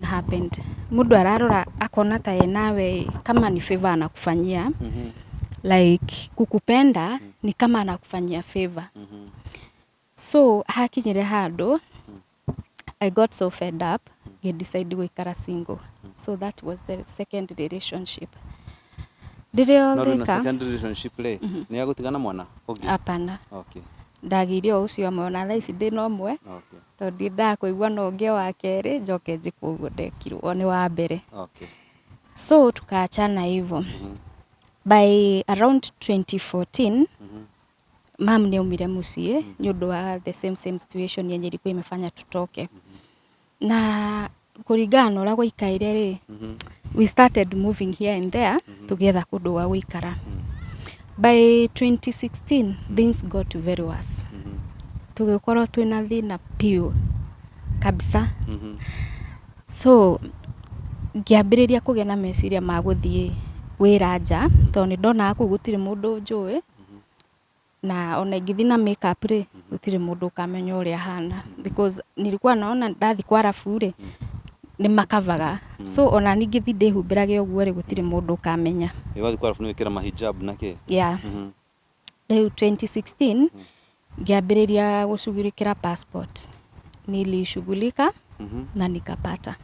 What happened? Mũndũ ararora akona ta ye nawe kama ni favor anakufanyia like kukupenda ni kama anakufanyia favor so hakinyire handũ I got so fed up ngĩ decide gũikara single so that was the second relationship ndĩrĩ o No rĩu na thĩka second relationship rĩ, nĩ agũtigana mwana ũngĩ? hapana Okay, ndagĩire o ũcio amwe ona thaa ici ndĩna ũmwe okay. Tondũ ndiendaga kũigua no ngĩe wa kerĩ njoke njĩkwo ũguo ndekirwo ũyũ nĩ wa mbere Okay. so tukaachana hivyo Mhm. by around 2014 Mhm. mam nĩ aumire mũciĩ nĩ ũndũ wa the same same situation yenye ilikuwa imefanya tutoke na kũringana na ũrĩa gwaikaire rĩ we started moving here and there tũgĩetha kũndũ gwa gũikara by 2016 things got very worse tũgĩkorwo twĩna thĩna piũ kabisa so ngĩambĩrĩria kũgĩa na meciria ma gũthiĩ wĩra nja tondũ nĩ ndonaga kũu gũtirĩ mũndũ njũĩ na ona ingĩthiĩ na makeup rĩ gũtirĩ mũndũ ũkamenya ũrĩa hana because nilikuwa naona ndathi kwa rabu rĩ nĩ makavaga so ona ningĩthi ndĩhumbĩrage ũguo rĩ gũtirĩ mũndũ ũkamenya Iwathi kwa rafu nĩ wĩkĩra mahijab na kĩ? yeah. rĩu 2016 ngĩambĩrĩria gũcugurĩkĩra passport nilishughulika na nikapata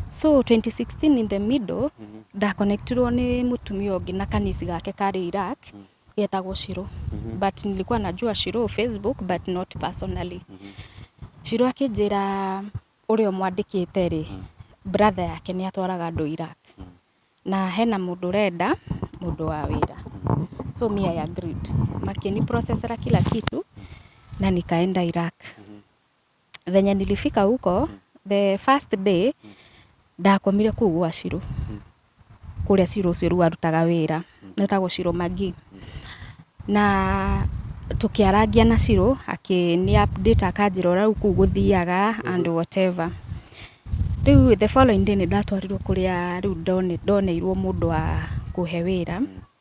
so 2016 in the middle ndakonektirwo nĩ mũtumia ũngĩ na kanisi gake karĩ Iraq yetagwo Shiro but nilikuwa najua Shiro Facebook but not personally Shiro akĩnjĩra ũrĩa mwandĩkĩte rĩ brother yake nĩ atwaraga andũ Iraq na hena mũndũ ũrenda mũndũ wa wĩra so me I agreed makĩni processera kila kitu na nikaenda Iraq venye nilifika huko the first day ndakomire kuu gwa Shiro kuria Shiro ucio riu arutaga wira etagwo Shiro Magi na tukiarangia na Shiro akini update akanjira urau kuu guthiaga and whatever riu the following day nindatwarirwo kuria riu ndone- ndoneirwo mundu wa kuhe wira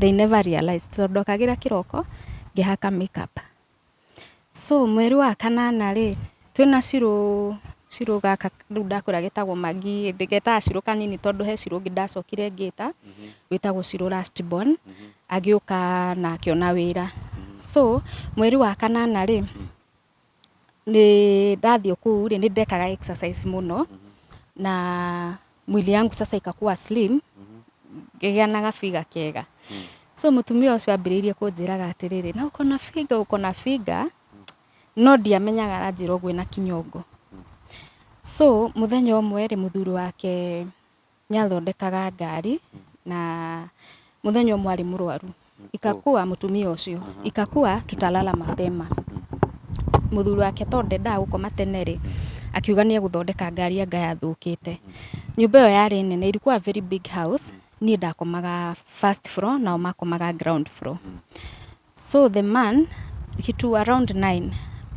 they never realized tondũ ndokagĩra kĩroko ngĩhaka makeup so mweri wa kanana rĩ twĩna cirũ cirũ gaka rĩu ndakũra getagwo magi getaga cirũ kanini tondũ he cirũ ũngĩ ndacokire ngĩta wĩtagwo cirũ last born agĩũka na akĩona wĩra so mweri wa kanana rĩ Ndathiĩ kũu rĩ, nĩ ndekaga exercise mũno, na mwĩrĩ yangu sasa ĩgakua slim, ngĩgĩa na ga figure kega. So mũtumia ũcio ambĩrĩirie kũnjĩraga atĩrĩrĩ, na ũkona figure, ũkona figure, no ndiamenyaga aranjĩra ũguo ena kĩnyongo. So mũthenya ũmwe rĩ, mũthuri wake... Nĩ athondekaga ngari na mũthenya ũmwe arĩ mũrwaru ikakua mũtumia ũcio ikakua tutalala mapema mũthuri wake tondũ ndendaga gũkoma tene rĩ akiuga nĩ egũthondeka ngari anga yathũkĩte nyũmba ĩyo yarĩ nene ilikuwa very big house niĩ ndakomaga first floor nao makomaga ground floor. So the man, kitu around nine,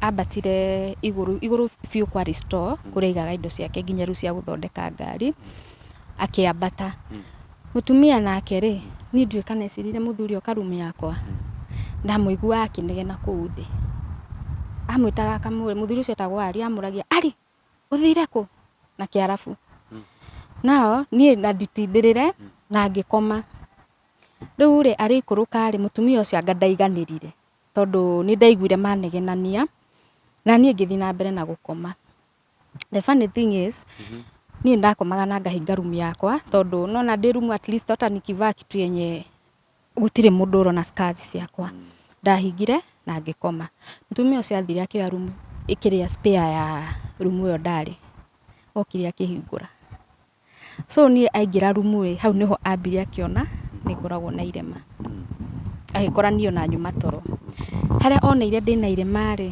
ambatire igũrũ, igũrũ biũ kwarĩ store kũrĩa aigaga indo ciake nginya rĩu cia gũthondeka ngari, akĩambata. Mũtumia nake rĩ, niĩ ndiũĩ kana ecirĩire mũthuri oka room yakwa, ndamũiguaga akĩnegena kũu thĩ. Amwĩtaga akamũria, mũthuri ũcio etagwo Arĩ, amũragia, Arĩ! ũthire kũ na kĩarabu nao niĩ na nditindĩrĩre na ngĩkoma rĩu rĩ arĩikũrũka rĩ mũtumia ũcio anga ndaiganĩrire tondũ nĩ ndaiguire manegenania na niĩ ngĩthiĩ na mbere na gũkoma the funny thing is niĩ nĩ ndakomaga na ngahinga room yakwa tondũ nĩ wona ndĩ room atleast hata nikivaa kitu yenye gũtirĩ mũndũ ũrona scars ciakwa. Ndahingire na ngĩkoma. Mũtumia ũcio athire akĩoya room kĩrĩa spare ya room ĩyo ndarĩ. Okire akĩhingũra. So niĩ aingĩra room ĩĩ, hau nĩho ambire akĩona nĩ ngoragwo na irema. Agĩkora niĩ ona nyuma toro. Harĩa oneire ndĩna irema rĩ,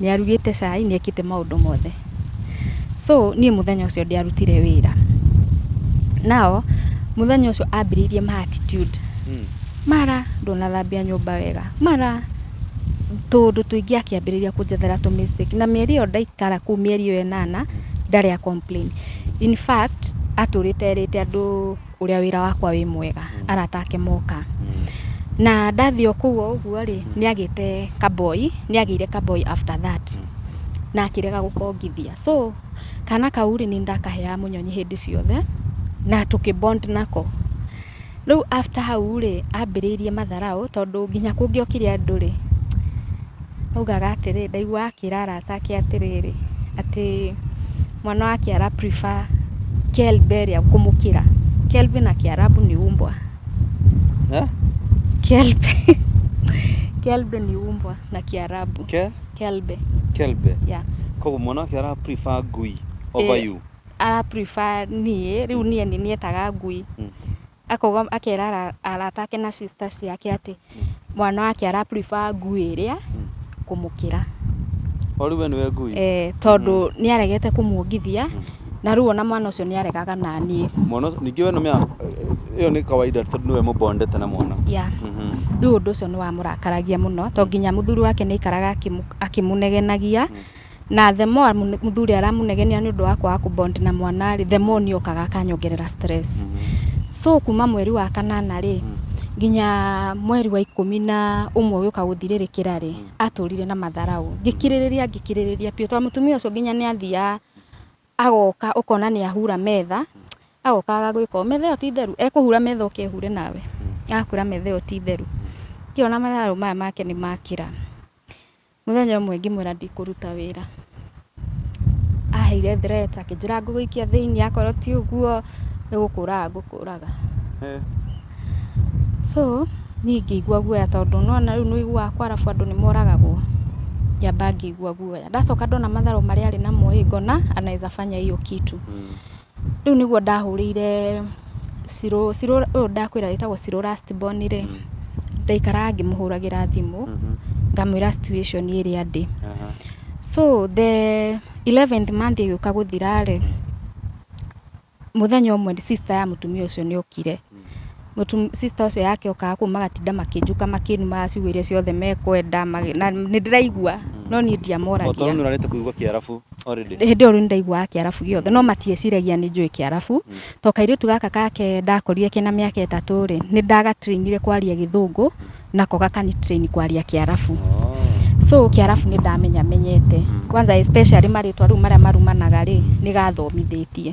Nĩarugĩte cai, nĩekĩte maũndũ mothe. So, niĩ mũthenya ũcio ndiarutire wĩra. Now, mũthenya ũcio ambĩrĩirie ma attitude. Mara, ndũnathambia nyũmba wega. Mara, tũũndũ tũingĩ akĩambĩrĩria kũnjethera tũ mistake. Na mĩeri ĩyo ndaikara kũu mĩeri ĩyo ĩnana, ndarĩ a complain. In fact, atũrĩte erĩte andũ. ũrĩa wĩra wakwa wĩ mwega arata ake moka na ndathiĩ o kũu o ũguo rĩ nĩ agĩte kaboi nĩ agĩire kaboi after that na akĩrega gũkongithia so kana kau rĩ nĩ ndakaheaga mũnyonyi hĩndĩ ciothe na tũkĩ bond nako rĩu after hau rĩ ambĩrĩirie matharaũ tondũ nginya kũngĩokire andũ rĩ Augaga atĩrĩ, ndaiguaga akĩra arata ake atĩrĩrĩ, atĩ mwana wake ara prefer Kelberia kũmũkĩra. Kelvin na Kĩarabu ni umbwa. Eh? Kelbe. Kelbe ni umbwa na Kĩarabu. Ke? Kelbe. Kelbe. Yeah. Koguo mwana wake ara prefer ngui over Eh, you. Ara prefer niĩ, rĩu niĩ nĩ nietaga ngui. Mm. Akauga akera ara- arata ake na sister ciake atĩ mwana wake ara prefer ngui ĩrĩa kũmũkĩra. O rĩu we nĩwe ngui? Eh, tondũ nĩaregete kũmuongithia, na rĩu ona mwana ũcio nĩaregaga na niĩ. Mwana ũcio, ningĩ we nĩ ũmenyaga ĩyo nĩ kawaida tondũ nĩwe mũ bond ete na mwana. Yeah. Mhm. Rĩu ũndũ ũcio nĩwamũrakaragia mũno, to nginya mũthuri wake nĩaikaraga akĩmũ akĩmũnegenagia, Na the more mũthuri aramũnegenia nĩ ũndũ wa kwaga kũ bond na mwana rĩ, the more niĩ okaga akanyongerera stress. So kuma mweri wa kanana rĩ, nginya mweri wa ikũmi na ũmwe ũgĩũka gũthirĩrĩkĩra rĩ, atũrire na matharaũ. Ngĩkirĩrĩria ngĩkirĩrĩria biũ tondũ mũtumia ũcio nginya nĩ athiaga agoka ũkona nĩ ahura metha, agoka agagwĩka ũũ, metha ĩyo ti theru, ekũhura metha oke ehure nawe, agakwĩra metha ĩyo ti theru. Ngĩona matharũ maya make nĩ makĩra. Mũthenya ũmwe ngĩmwĩra ndikũruta wĩra, aheire threat akĩnjĩra ngũgũikia thĩinĩ akorwo ti ũguo nĩ gũkũraga ngũkũraga. So niĩ ngĩigua guoya tondũ nĩwona rĩu nĩũiguaga kwa arabu andũ nĩmoragagwo, ngĩamba ngĩigua guoya. Ndacoka ndona matharũ marĩa arĩ namo-ĩ, ngona anaeza fanya hiyo kitu. Rĩu nĩguo ndahũrĩire Shiro, Shiro ũyũ ndakwĩra wĩtagwo Shiro last born rĩ, ndaikaraga ngĩmũhũragĩra thimũ, ngamwĩra situation ĩrĩa ndĩ. So the 11th month ĩgĩũka gũthira rĩ, mũthenya ũmwe sister ya mũtumia ũcio nĩ okire, Mũtum, sister ũcio yake okaga kũu magatinda makĩnjuka makĩnumaga ciugo iria ciothe mekwenda magĩ- na nĩ ndĩraigua no niĩ ndiamoragia Otorwo nĩ ũrarĩte kũigua kĩarabu already. hĩndĩ ĩyo rĩu nĩndaiguaga kĩarabu gĩothe no matieciragia nĩ njũĩ kĩarabu to kairĩtu gaka kake ndakorire kena mĩaka ĩtatũ rĩ nĩ ndagatrainire kwaria gĩthũngũ nako gakanitrain kwaria kĩarabu Oh. so kĩarabu nĩ ndamenya menyete kwanza especially marĩtwa rĩu marĩa marumanaga rĩ nĩ gathomithĩtie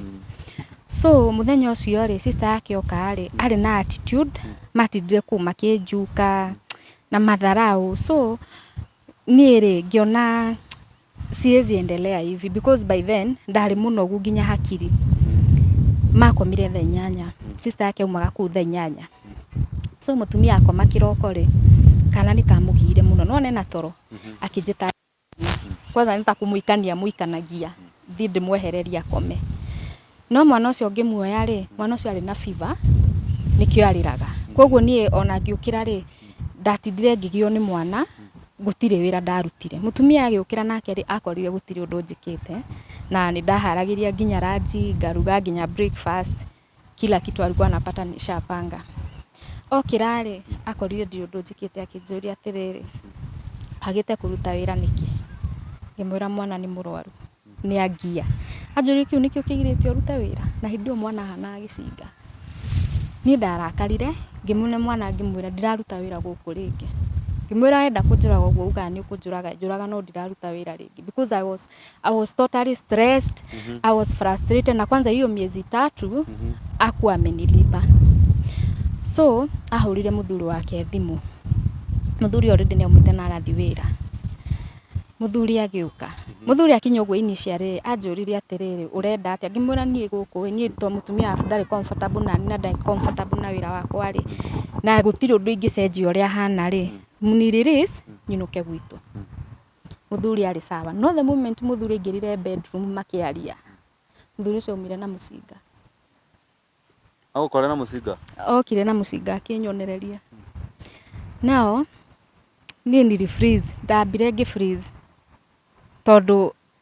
So mũthenya ũcio rĩ sister yake oka rĩ arĩ na attitude matindire kuu makĩnjuka na matharau so niĩ rĩ ngĩona siwezi endelea hivi because by then ndarĩ mũnogu nginya hakiri makomire thaa inyanya sister yake aumaga kuu thaa inyanya so mũtumia akoma kĩroko rĩ kana nĩ kamũgiire mũno nĩwona ena toro akĩnjĩta kwanza nĩ ta kũmũikania mũikanagia thiĩ ndĩmwehererie akome no mwana ũcio ngĩmuoya rĩ mwana ũcio arĩ na biba nĩkĩo arĩraga koguo niĩ ona ngĩũkĩra rĩ ndatindire ngĩgio nĩ mwana gũtirĩ wĩra ndarutire mũtumia agĩũkĩra nake rĩ akorire gũtirĩ ũndũ njĩkĩte na nĩ ndaharagĩria nginya ranji ngaruga nginya breakfast kila kitu alikuwa anapata nishapanga. Okira rĩ akorire ndirĩ ũndũ njĩkĩte akĩnjũria atĩrĩrĩ agĩte kũruta wĩra nĩkĩ ngĩmwĩra mwana nĩ mũrwaru nĩ angia anjũria kĩu nĩkĩo kĩgirĩtie ũrute wĩra na hĩndĩ ĩyo mwana ahanaga gĩcinga niĩ ndarakarire ngĩmwĩra mwana ngĩmwĩra ndiraruta wĩra gũkũ rĩngĩ ngĩmwĩra wenda kũnjũraga ũguo ugaga nĩ ũkũnjũraga njũraga no ndiraruta wĩra rĩngĩ because I was I was totally stressed. I was frustrated na kwanza hiyo miezi tatu akuwa amenilipa. So ahũrire mũthuri wake thimũ. Mũthuri already nĩaumĩte na agathi wĩra. Mũthuri agĩũka. Mũthuri akinya ũguo initially anjũrire atĩrĩrĩ ũrenda atĩa? Ngĩmwĩra niĩ gũkũ ĩ niĩ to mũtumia waku ndarĩ comfortable na niĩ na ndarĩ comfortable na wĩra wakwa rĩ na gũtirĩ ũndũ ingĩcenjia ũrĩa hana rĩ mnirelease nyinũke gwitũ. Mũthuri arĩ sawa. No the moment mũthuri aingĩrire bedroom makĩaria, mũthuri ũcio aumire na mũcinga. Agũkore na mũcinga? Okire na mũcinga akĩnyonereria. Now, niĩ nili freeze, ndambire ngĩ freeze tondũ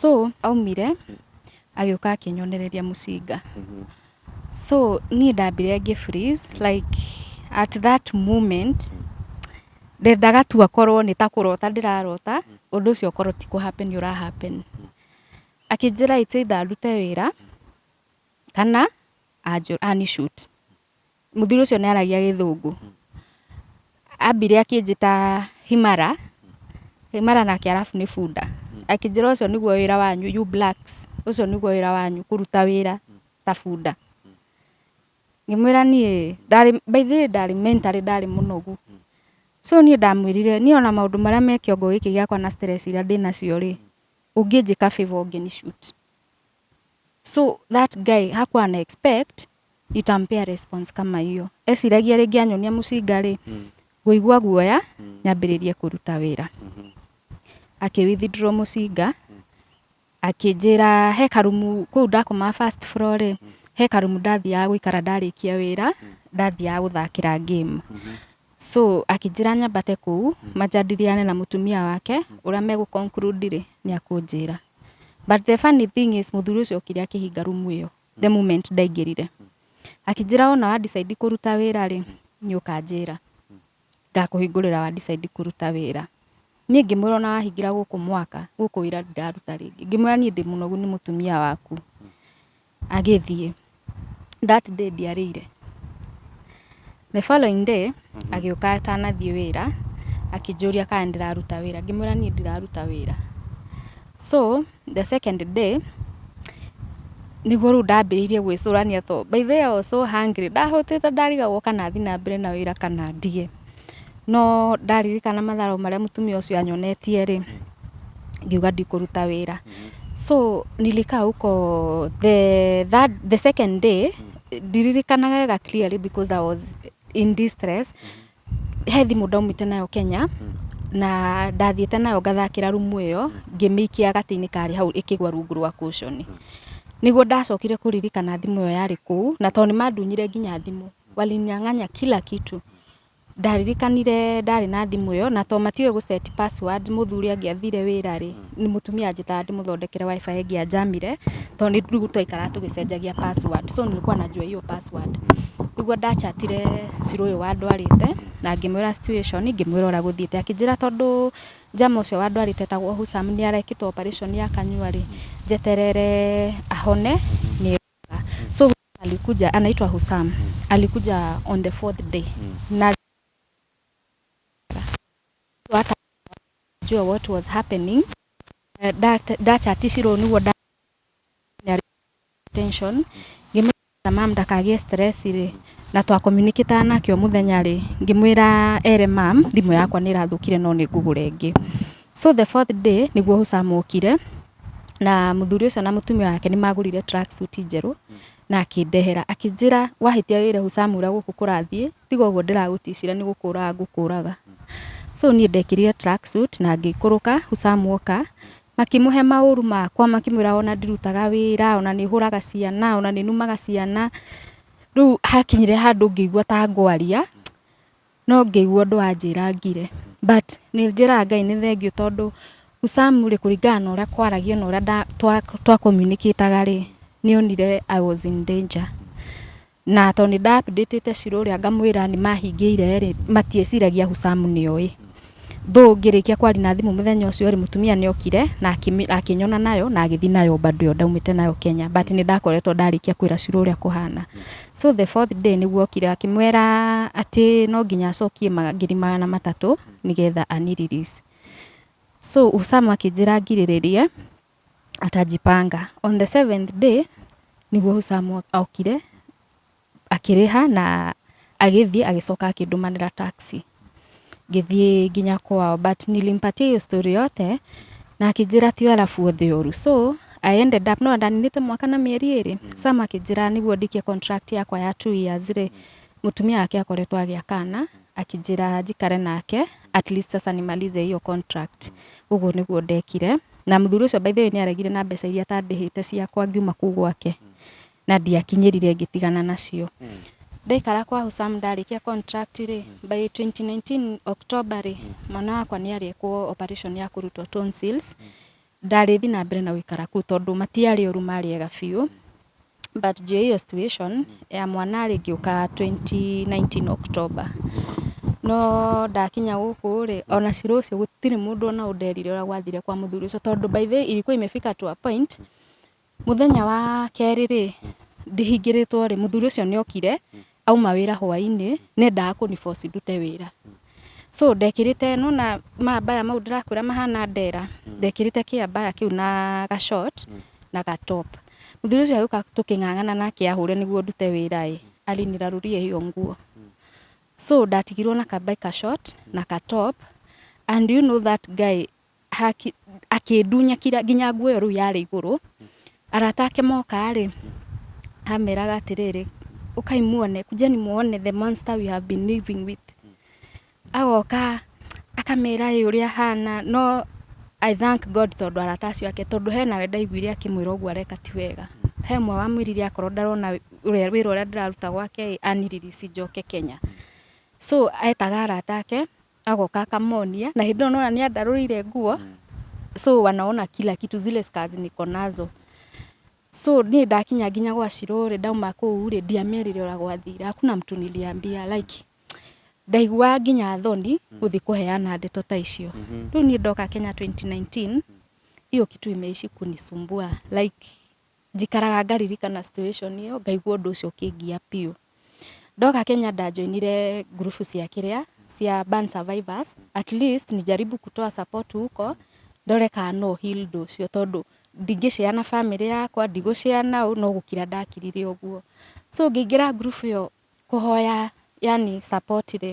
So aumire agĩũka akĩnyonereria mũcinga. So niĩ ndambire ngĩ freeze like at that moment ndendaga tu akorwo nĩ ta kũrota ndĩrarota ũndũ ũcio ũkorwo ti kũ happen ũra happen. Akĩnjĩra it's either ndute wĩra kana anjũ, ani shoot. mũthuri ũcio nĩ aragia gĩthũngũ ambire akĩnjĩta himara himara nake arabu nĩ bunda akĩnjĩra ũcio nĩguo wĩra wanyu you blacks ũcio nĩguo wĩra wanyu kũruta wĩra ta bunda ngĩmwĩra niĩ ndarĩ by the way ndarĩ mentally ndarĩ mũnogu so niĩ ndamwĩrire niĩ ona maũndũ marĩa me kĩongo gĩkĩ gĩakwa na stress iria ndĩ nacio rĩ ũngĩnjĩka favor ũngĩni shoot So that guy hakuwa ana expect nitampea response kama hiyo. Eciragia rĩngĩ anyonia mũcinga rĩ, ngũigua guoya nyambĩrĩrie kũruta wĩra. Akĩ withdraw mũcinga, akĩnjĩra he karumu kũu ndakomaga first floor rĩ, he karumu ndathiaga gũikara ndarĩkia wĩra, ndathiaga gũthakĩra game. So akĩnjĩra nyambate kũu manjadiliane na mũtumia wake ũrĩa megũ conclude rĩ, nĩakũnjĩra. but the funny thing is mũthuri ũcio okire akĩhinga rumu ĩyo the moment ndaingĩrire akĩnjĩra ona wa decide kũruta wĩra rĩ nĩ ũkanjĩra ngakũhingũrĩra wa decide kũruta wĩra niĩ ngĩmwĩra ona wahingĩra gũkũ mwaka gũkũ wĩra ndiraruta rĩngĩ ngĩmwĩra niĩ ndĩ mũnogu nĩ mũtumia waku Agĩthiĩ. That day ndiarĩire. The following day agĩũka atanathiĩ wĩra akĩnjũria kana ndĩraruta wĩra ngĩmwĩra niĩ ndiraruta wĩra. So the second day nĩguo rĩu ndambĩrĩirie gwĩcũrania tondũ by the way I was so hungry ndahũtĩte ndarigagwo kana thiĩ na mbere na wĩra kana ndige. No ndaririkana matharu marĩa mũtumia ũcio anyonetie rĩ, ngiuga ndikũruta wĩra. So nilikaa huko the third, the second day, ndiririkanaga wega clearly because I was in distress. He thimũ ndaumĩte nayo Kenya, na ndathiĩte nayo ngathakĩra rumu ĩyo, ngĩmĩikia gatĩ-inĩ karĩ hau ĩkĩgwa rungu rwa cushion. Nĩguo ndacokire kũririkana thimũ ĩyo yarĩ kũu, na to nĩ mandunyire nginya thimũ. Walinyang'anya kila kitu. Ndaririkanire ndarĩ na thimũ ĩyo, na tondũ matiũĩ gũ set password, mũthuri angĩathire wĩra rĩ, mũtumia anjĩtaga ndĩmũthondekere WIFI ĩngĩa njamire, tondũ rĩu twaikaraga tũgĩcenjagia password. So nilikuwa najua hiyo password. Nĩguo nda chat ire cura ũyũ wandwarĩte, na ngĩmwĩra situation, ngĩmwĩra ũrĩa gũthiĩte. Akĩnjĩra tondũ jama ũcio wandwarĩte etagwo Hussam nĩ arekĩtwo operation ya kanua rĩ, njeterere ahone nĩ. so Husam alikuja anaitwa Husam alikuja on the fourth day na hata jua what was happening Eh, dat- data atishiro niguo da- nĩ arĩ tension ngĩmwĩra mam ndakagĩe stress rĩ na twa communicate nake o mũthenya rĩ ngĩmwĩra ere mam thimũ yakwa nĩ ĩrathũkire no nĩ ngũgũre ĩngĩ so the fourth day nĩguo Husam okire na mũthuri ũcio na mũtumia wake nĩ magũrire track suit njerũ na akĩndehera akĩnjĩra wahĩtia wĩre hucamura gũkũ kũrathiĩ tiga ũguo ndĩragũticira nĩ gũkũraga ngũkũraga so niĩ ndekĩrire track suit na ngĩikũrũka hucamu oka makĩmũhe maũru makwa makĩmwĩra ona ndirutaga wĩra ona nĩ hũraga ciana ona nĩ numaga ciana rĩu hakinyire handũ ngĩigua ta ngwaria No ngĩigua ũndũ wanjĩra ngire. But nĩ njĩraga Ngai nĩ thengiũ tondũ Usamu rĩ kũringana na ũrĩa kwaragio na ũrĩa twa communicate rĩ nĩ onire I was in danger. Na tondũ nĩ nda update te Shiro ũrĩa ngamwĩra nĩ mahingĩire rĩ matieciragia Usamu nĩ oĩ. Though ngĩrĩkia kwaria na thimũ mũthenya ũcio rĩ, mũtumia nĩ okire na akĩmĩ- na akĩnyona nayo na agĩthiĩ nayo bado ĩyo ndaumĩte nayo Kenya but nĩ ndakoretwo ndarĩkia kwĩra Shiro ũrĩa kũhana. So the fourth day nĩguo okire akĩmwĩra atĩ no nginya acokie ma- ngiri magana matatũ nĩgetha ani release. So Usama akĩnjĩra ngirĩrĩrie atajipanga. On the seventh day nĩguo Usama okire. Akĩrĩha na agĩthiĩ agĩcoka akĩndũmanĩra taxi ngĩthiĩ nginya kwao but nilimpatia hiyo story yote na akĩnjĩra ti arabu othe ũru so I ended up no ndaninĩte mwaka na mĩeri ĩrĩ Sam akĩnjĩra nĩguo ndikie contract yakwa ya two years rĩ mũtumia wake akoretwo agĩa kana akĩnjĩra njikare nake at least sasa nimalize hiyo contract ũguo nĩguo ndekire na mũthuri ũcio by the way nĩ aregire na mbeca iria atandĩhĩte ciakwa ngiuma kũu gwake na ndiakinyĩrire ngĩtigana nacio ndaikara kwa Husam ndarĩkia contract rĩ by 2019 October rĩ mwana wakwa nĩ arekwo operation ya kũrutwo tonsils ndarĩthi na mbere na gũikara kũu tondũ matiarĩ oru marĩ ega biũ but juu ya hiyo situation ya mwana rĩ ngĩũka 2019 October no ndakinya gũkũ rĩ ona ciro ũcio gũtirĩ mũndũ ona ũnderire ũrĩa gwathire kwa mũthuri ũcio tondũ by the way ilikuwa imefika to a point Mũthenya wa kerĩ rĩ, ndĩhingĩrĩtwo rĩ, mũthuri ũcio nĩ okire auma wĩra hwainĩ, nĩ endaga kũni force ndute wĩra. So ndekĩrĩte nĩ wona mambaya mau ndĩrakwĩra mahana ndera, ndekĩrĩte kĩambaya kĩu na ga short na ga top. Mũthuri ũcio agĩũka tũkĩng'ang'ana nake ahũre nĩguo ndute wĩra ĩ, aliniraruria hiyo nguo. So ndatigirwo na ka bike ka short na ka top and do you know that guy haki- akĩndunya kira- nginya nguo ĩyo rĩu yarĩ igũrũ arata ake moka-rĩ ameraga atĩrĩrĩ ũkai muone kujeni muone the monster we have been living with agoka akamera ĩ ũrĩa ahana no I thank God tondũ arata acio ake tondũ hena we ndaiguire akĩmwĩra ũguo areka ti wega he ũmwe wamwĩrire akorwo ndarona wĩ- ũrĩa- wĩra ũrĩa ndĩraruta gwake-ĩ aniririci njoke Kenya so etaga arata ake agoka akamonia na hĩndĩ ĩyo nona nĩ andarũrĩire nguo so wanaona kila kitu zile scars niko nazo so niĩ ndakinya nginya gwa Shirũ rĩ ndauma kũu rĩ ndiamerire ũrĩa gwathira hakuna mtu niliambia like ndaiguaga nginya thoni gũthiĩ kũheana ndeto ta icio rĩu niĩ ndoka Kenya 2019 hiyo kitu imeishi kunisumbua like njikaraga ngaririkana situation ĩyo ngaigua ũndũ ũcio ũkĩngia biũ. Ndoka Kenya nda joinire group cia kĩrĩa, cia burn survivors, at least nijaribu kutoa support huko ndore kana no heal ũndũ ũcio tondũ ndingĩ share na famĩlĩ yakwa, ndigũ share na ũ, no gũkira ndakirire ũguo. So ngĩingĩra group ĩyo kũhoya yaani support rĩ,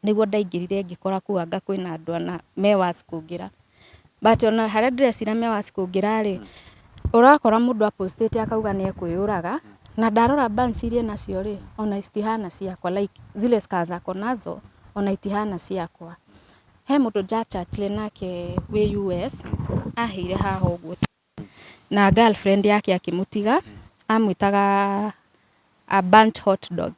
nĩguo ndaingĩrire ngĩkora kũu anga kwĩna andũ ana me worse kũngĩra. But ona harĩa ndĩrecira me worse kũngĩra rĩ, ũrakora mũndũ a post ĩte akauga nĩ ekwĩyũraga, na ndarora burns iria enacio rĩ, ona citihana ciakwa like zile scars ako nazo ona itihana ciakwa. He mũndũ nja chatire nake wĩ US, aheire haha ũguo. Na girlfriend yake akĩmũtiga amwĩtaga a burnt hot dog.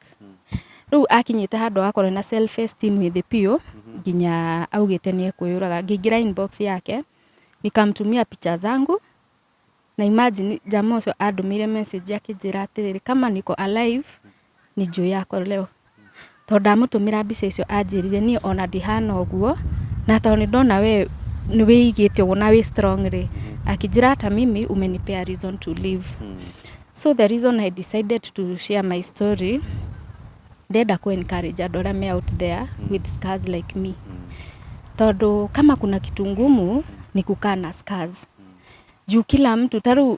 Rĩu akinyĩte handũ agakorwo ena self esteem thĩ biũ nginya augĩte nĩ ekwĩyũraga. Ngĩingĩra inbox yake nikamtumia picha zangu na imagine jamaa ũcio andũmĩire message akĩnjĩra atĩrĩrĩ kama niko alive Nĩ njũĩ yakwa leo. Tondũ ndamũtũmĩra mbica icio anjĩrire niĩ ona ndihana ũguo. Na tondũ nĩ ndona we nĩ wĩigĩte ũguo na wĩ strong rĩ, akĩnjĩra hata mimi umenipea reason to live. So the reason I decided to share my story, ndĩrenda kũ encourage andũ arĩa me out there with scars like me. Tondũ kama kuna kitu ngumu ni kukaa na scars. Juu kila mtu ta rĩu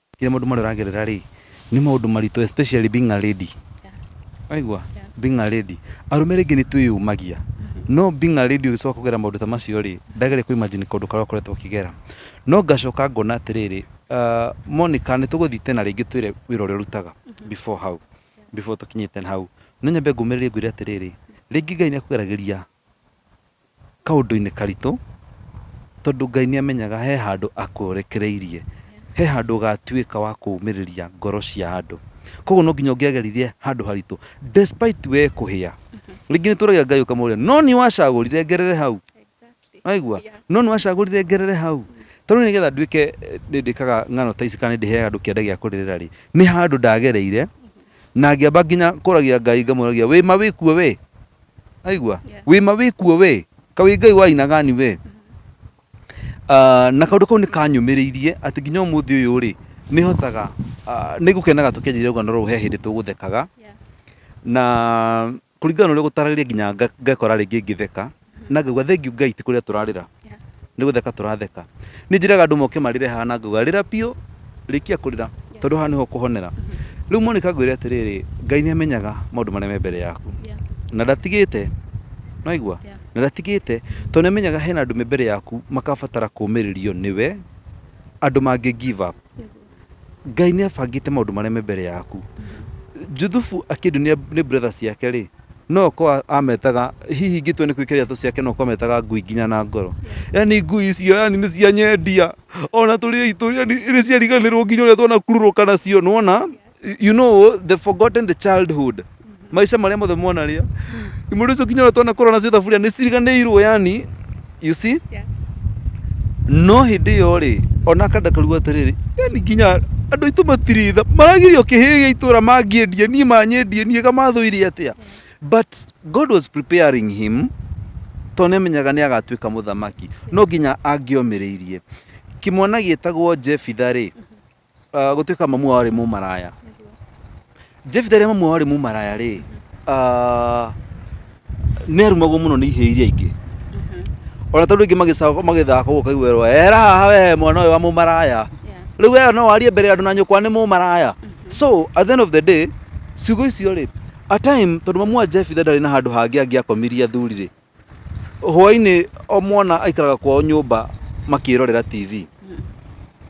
Kire maundu mari uragerera ri ni maundu maritu especially being a lady. Waigua? Being a lady. Arume ringi ni twiyumagia. No being a lady ugicoka kugera maundu ta macio ri, ndageri ku imagine kaundu karia ukoretwo ukigera. No ngacoka ngona atiriri, ah, Monica ni tuguthii tena ringi utwire wira uria urutaga before hau, before tukinyite hau. No nyambe ngumiririe ngwire atiriri, ringi Ngai ni akugeragiria kaũndũ-inĩ karitũ, tondũ Ngai nĩ amenyaga he handũ akũrekereirie, he handũ ũgatuĩka wa kũũmĩrĩria ngoro cia andũ. Koguo no nginya ũngĩageririe handũ haritũ despite we kũhĩa. Rĩngĩ nĩ tũragia Ngai ũkamũria no niĩ wacagũrire ngerere hau? Nĩwaigua? No nĩ wacagũrire ngerere hau? Ta rĩu nĩgetha nduĩke nĩ ndĩkaga ng'ano ta ici kana nĩ ndĩheaga andũ kĩande gĩa kũrĩrĩra rĩ, nĩ handũ ndagereire na ngĩamba nginya kũragia ngai ngamũragia wĩ ma wĩ kuo wĩ aigua Yeah. wĩ ma wĩ kuo wĩ ka wĩ ngai wa aina gani wĩ Ah, na kaũndũ kau nĩ kanyũmĩrĩirie atĩ nginya ũmũthĩ ũyũ rĩ nĩ hotaga nĩ ngũkenaga tũkĩanjĩrĩria rũgano rũrũ he hĩndĩ tũgũthekaga Yeah. na kũringana na ũrĩa gũtaragĩria nginya nga- ngekora rĩngĩ ngĩtheka na ngauga thengiũ ngai ti kũrĩa tũrarĩra nĩ gũtheka tũratheka nĩ njĩraga andũ moke marĩre haha na ngauga rĩra biũ rĩkia kũrĩra tondũ haha nĩho ũkũhonera rĩu monika ngwĩre atĩrĩrĩ ngai nĩ amenyaga maũndũ marĩa me mbere yaku na ndatigĩte naigua Yeah. na ndatigĩte tondũ nĩ amenyaga hena andũ me mbere yaku makabatara kũmĩrĩrio nĩwe andũ mangĩ give up Ngai nĩ abangĩte maũndũ mareme mbere yaku. Juthufu akĩndũ nĩ, nĩ brother ciake rĩ, no ko ametaga hihi ingĩtua nĩ kwĩkĩra iratũ ciake no ko ametaga ngui nginya na ngoro yani ngui icio yani nĩ cia nyendia ona tũrĩ aitũ yani nĩ ciariganĩrwo nginya ũrĩa twanakururũka nacio nĩwona you know the forgotten the childhood maica marĩa mothe mwana rĩa imuri icio kinya twana kora nacio thaburia nĩ ciriganĩirwo yani you see Yeah. no hĩndĩ ĩyo rĩ ona akandakaruga atĩrĩrĩ yani nginya andũ aitũ matiritha maragirio kĩhĩgĩa itũra mangĩendie niĩ manyendie niĩ kamathũire atĩa but god was preparing him tondũ nĩamenyaga nĩ agatuĩka mũthamaki no nginya angĩomĩrĩirie kĩmwana gĩtagwo jebitha rĩ Ah, gũtuĩka mamu wao arĩ mũmaraya jefitha rĩrĩa mamu wao arĩ mũmaraya rĩ ah, nĩ arumagwo mũno nĩ ihĩĩ iria ingĩ ona tondũ ingĩ magĩcako- magĩthaka ũguo kaigua erwo era haha we mwana ũyũ wa mũmaraya rĩu we no warie mbere ya andũ na nyũkwa nĩ mũmaraya so at the end of the day ciugo icio rĩ a time tondũ mamu wa jefitha ndarĩ na handũ hangĩ angĩakomirie athuri rĩ Hwainĩ o mwana aikaraga kwao nyũmba makĩrorera TV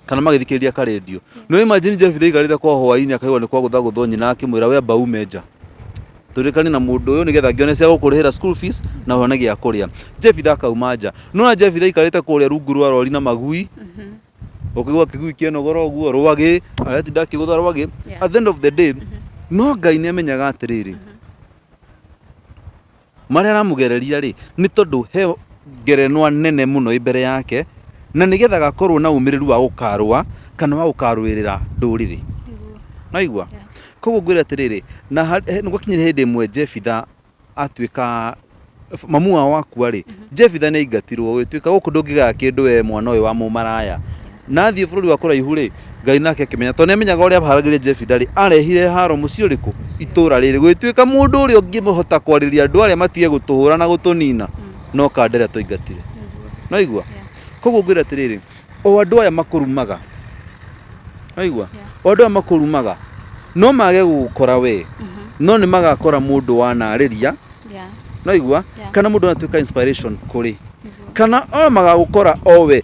kana magĩthikĩrĩria ka radio. No imagine Jebitha aikarĩte kwao hwainĩ akaigua nĩ kwagũtha gũthwo nyina akĩmwĩra we amba ume nja tũrĩkane na mũndũ ũyũ nĩgetha ngĩone cia gũkũrĩhĩra school fees na one gĩa kũrĩa. Jebitha akauma nja. No na Jebitha aikarĩte kũrĩa rungu rwa rori na magui ũkĩgwa kĩgui kĩanogora ũguo rwagĩ aretinda akĩgũtha rwagĩ Yeah. at the end of the day no Ngai nĩ amenyaga atĩrĩrĩ Marĩa aramũgereria-rĩ, nĩ tondũ he ngerenwa nene mũno ĩ mbere yake, na nĩgetha agakorwo na ũmĩrĩru wa gũkarũa kana wa gũkarũĩrĩra ndũrĩrĩ. Nĩwaigua? Koguo ngwĩre atĩrĩrĩ, na nĩgwakinyire hĩndĩ ĩmwe Jebitha atuĩka, mamu wao akua-rĩ, Jebitha nĩaingatirwo, ũgĩtuĩka gũkũ ndũngĩgaya kĩndũ wee mwana ũyũ wa mũmaraya. Na athiĩ bũrũri wa kũraihu-rĩ, Ngai nake akĩmenya, tondũ nĩamenyaga ũrĩa aharagĩria Jefitha-rĩ, aarehire haaro mũciĩ ũrĩkũ? Itũũra rĩĩrĩ, gũgĩtuĩka mũndũ ũrĩa ũngĩhota kwarĩria andũ arĩa matige gũtũhũũra na gũtũniina no kande arĩa twaingatire. Nĩwaigua? Kwoguo ngwĩre atĩrĩrĩ, o andũ aya makũrumaga, nĩwaigua, o andũ aya makũrumaga, no mage gũgũkora wee, no nĩmagakora mũndũ wanaarĩria, nĩwaigua, kana mũndũ wanatuĩka inspiration kũrĩ, kana o magagũkora o wee.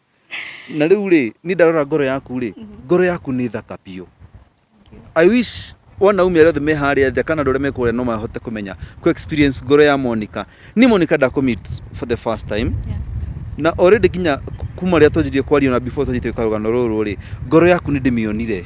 na rä u rä ni ndarora ngoro yaku rä mhm. ngoro yaku nä thaka biå i wish wanaume arĩa othe me harĩa thĩ kana andũ arĩa mekũrĩa no mahote kũmenya ku experience ngoro ya Monica ni Monica ndakumit for the first time yeah. na already kinya kuma rĩa twanjirie kwaria na before twanjite karugano ruru ri ngoro yaku ni ndimionire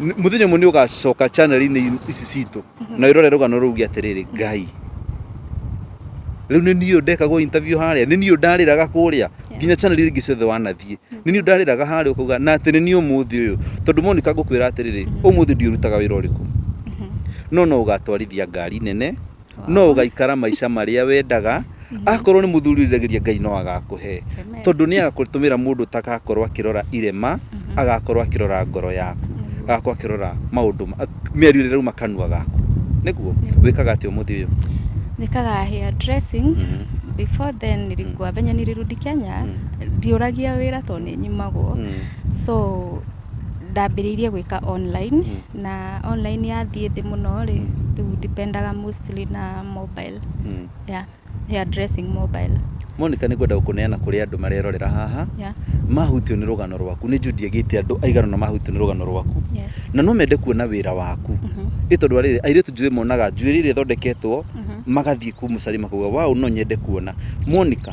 Nĩ- mũthenya ũmwe nĩ ũgacoka chanel-inĩ ici citũ na wĩrore rũgano rũu uge atĩrĩrĩ ngai rĩu nĩ niĩ ũyũ ndekagwo interview harĩa nĩ niĩ ũyũ ndarĩraga kũrĩa nginya chanel iria ingĩ ciothe wanathiĩ nĩ niĩ ũyũ ndarĩraga harĩa ũkauga na atĩ nĩ niĩ ũmũthĩ ũyũ tondũ monika ngũkwĩra atĩrĩrĩ ũmũthĩ ndiũrutaga wĩra ũrĩkũ no no ũgatwarithia ngari nene no ũgaikara maica marĩa wendaga akorwo nĩ mũthuri ũriragĩria ngai no agakũhe Amen. tondũ nĩ agakũtũmĩra mũndũ ũtagakorwo akĩrora irema agakorwo akĩrora ngoro yaku agakorwo akĩrora maũndũ ma- mĩario ĩrĩa ĩrauma kanua gaku nĩguo wĩkaga atĩ ũmũthĩ ũyũ nikaga hair dressing Mhm. before then nilikuwa venye nilirudi Kenya ndiuragia wira to ni nyimagwo Mm. so Ndambĩrĩirie gwĩka online na online yathiĩ thĩ mũno rĩ, rĩu ndipendaga mostly na mobile, yeah, hair dressing mobile. Monica nĩ ngwenda gũkũneana kũrĩ andũ marerorera haha Yeah. mahutio nĩ rũgano rwaku nĩ Judy agĩte andũ aigana na mahutio nĩ rũgano rwaku Yes. na no mende kuona wĩra waku ĩ tondũ arĩrĩ airĩtu njũĩ monaga njuĩrĩ ĩrĩa ĩthondeketwo magathiĩ kũu mũcari makauga wow no nyende kuona Monica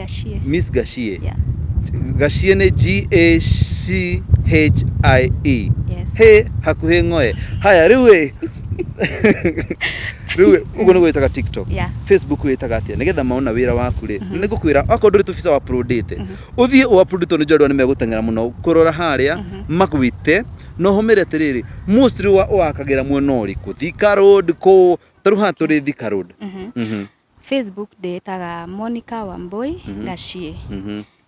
Gashie. Miss Gashie. Yeah. Gashie nĩ G-A-C-H-I-E. Yes. Hĩ hakuhĩ ng'oe. Haya, rĩu ĩ. Rĩu ĩ, ũguo nĩ gwĩtaga TikTok. Yeah. Facebook wĩtaga atĩa nĩgetha maona wĩra waku rĩ nĩ ngũkwĩra okorwo ndũrĩ tũbica wa uploadĩte ũthiĩ ũ upload tondũ njorwa nĩ megũteng'era mũno kũrora harĩa magwĩte na ũhũmĩre atĩrĩrĩ mostly wa ũwakagĩra mwena ũrĩkũ Thika road kũ tarĩu haha tũrĩ Thika road Mhm. Facebook ndĩĩtaga Monica Wambui Gaciĩ.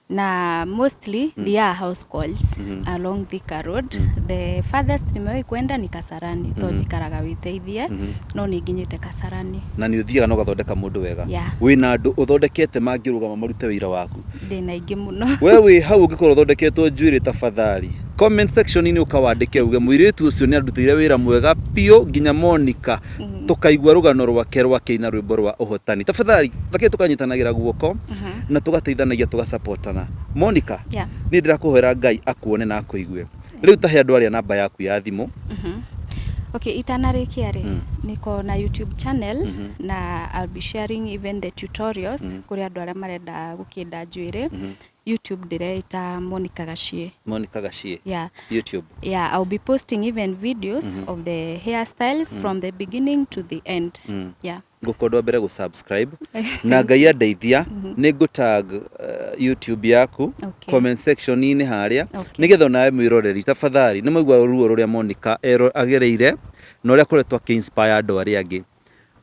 Na mostly thiaga house calls along Thika Road. The farthest nimewahi kwenda ni Kasarani. To njikaraga Wĩteithie, no nĩ nginyĩte Kasarani. Na nĩ ũthiaga na ũgathondeka mũndũ wega? Yeah. Wĩna andũ ũthondekete mangĩrũgama marute wĩra waku? Ndĩna aingĩ mũno. We wĩ hau ũngĩkorwo ũthondeketwo njuĩrĩ tafadhali comment section inĩ ũkawandĩke uge mũirĩtu ũcio nĩandutĩire wĩra mwega biũ nginya Monica mhm. tũkaigua rũgano rwake rwa kĩina rwĩmbo rwa ũhotani tafadhali reke tũkanyitanagĩra guoko mhm. na tũgateithanagia tũgacapotana Monica yeah. nĩ ndĩrakũhoera Ngai akuone na akũigue rĩu tahe andũ arĩa namba yaku ya thimũ mhm. Okay, itanarĩkia rĩ mm. niko na YouTube channel mm -hmm. na I'll be sharing even the tutorials mm -hmm. kuri andu aria marenda gukinda njuiri mm -hmm. YouTube ndireita Monica Gashie. Monica Gashie. Yeah. YouTube. Yeah, I'll be posting even videos mm -hmm. of the hairstyles mm -hmm. from the beginning to the end. Mm -hmm. Yeah. Ngũkondwa mbere gũ subscribe na ngai andeithia mhm. nĩ ngũ tag uh, YouTube yaku okay. comment section inĩ harĩa okay. nĩgetha onawe mwĩroreri tafadhali nĩ maigua ruo rũrĩa Monica agereire na ũrĩa koretwo akĩ inspire andũ arĩa angĩ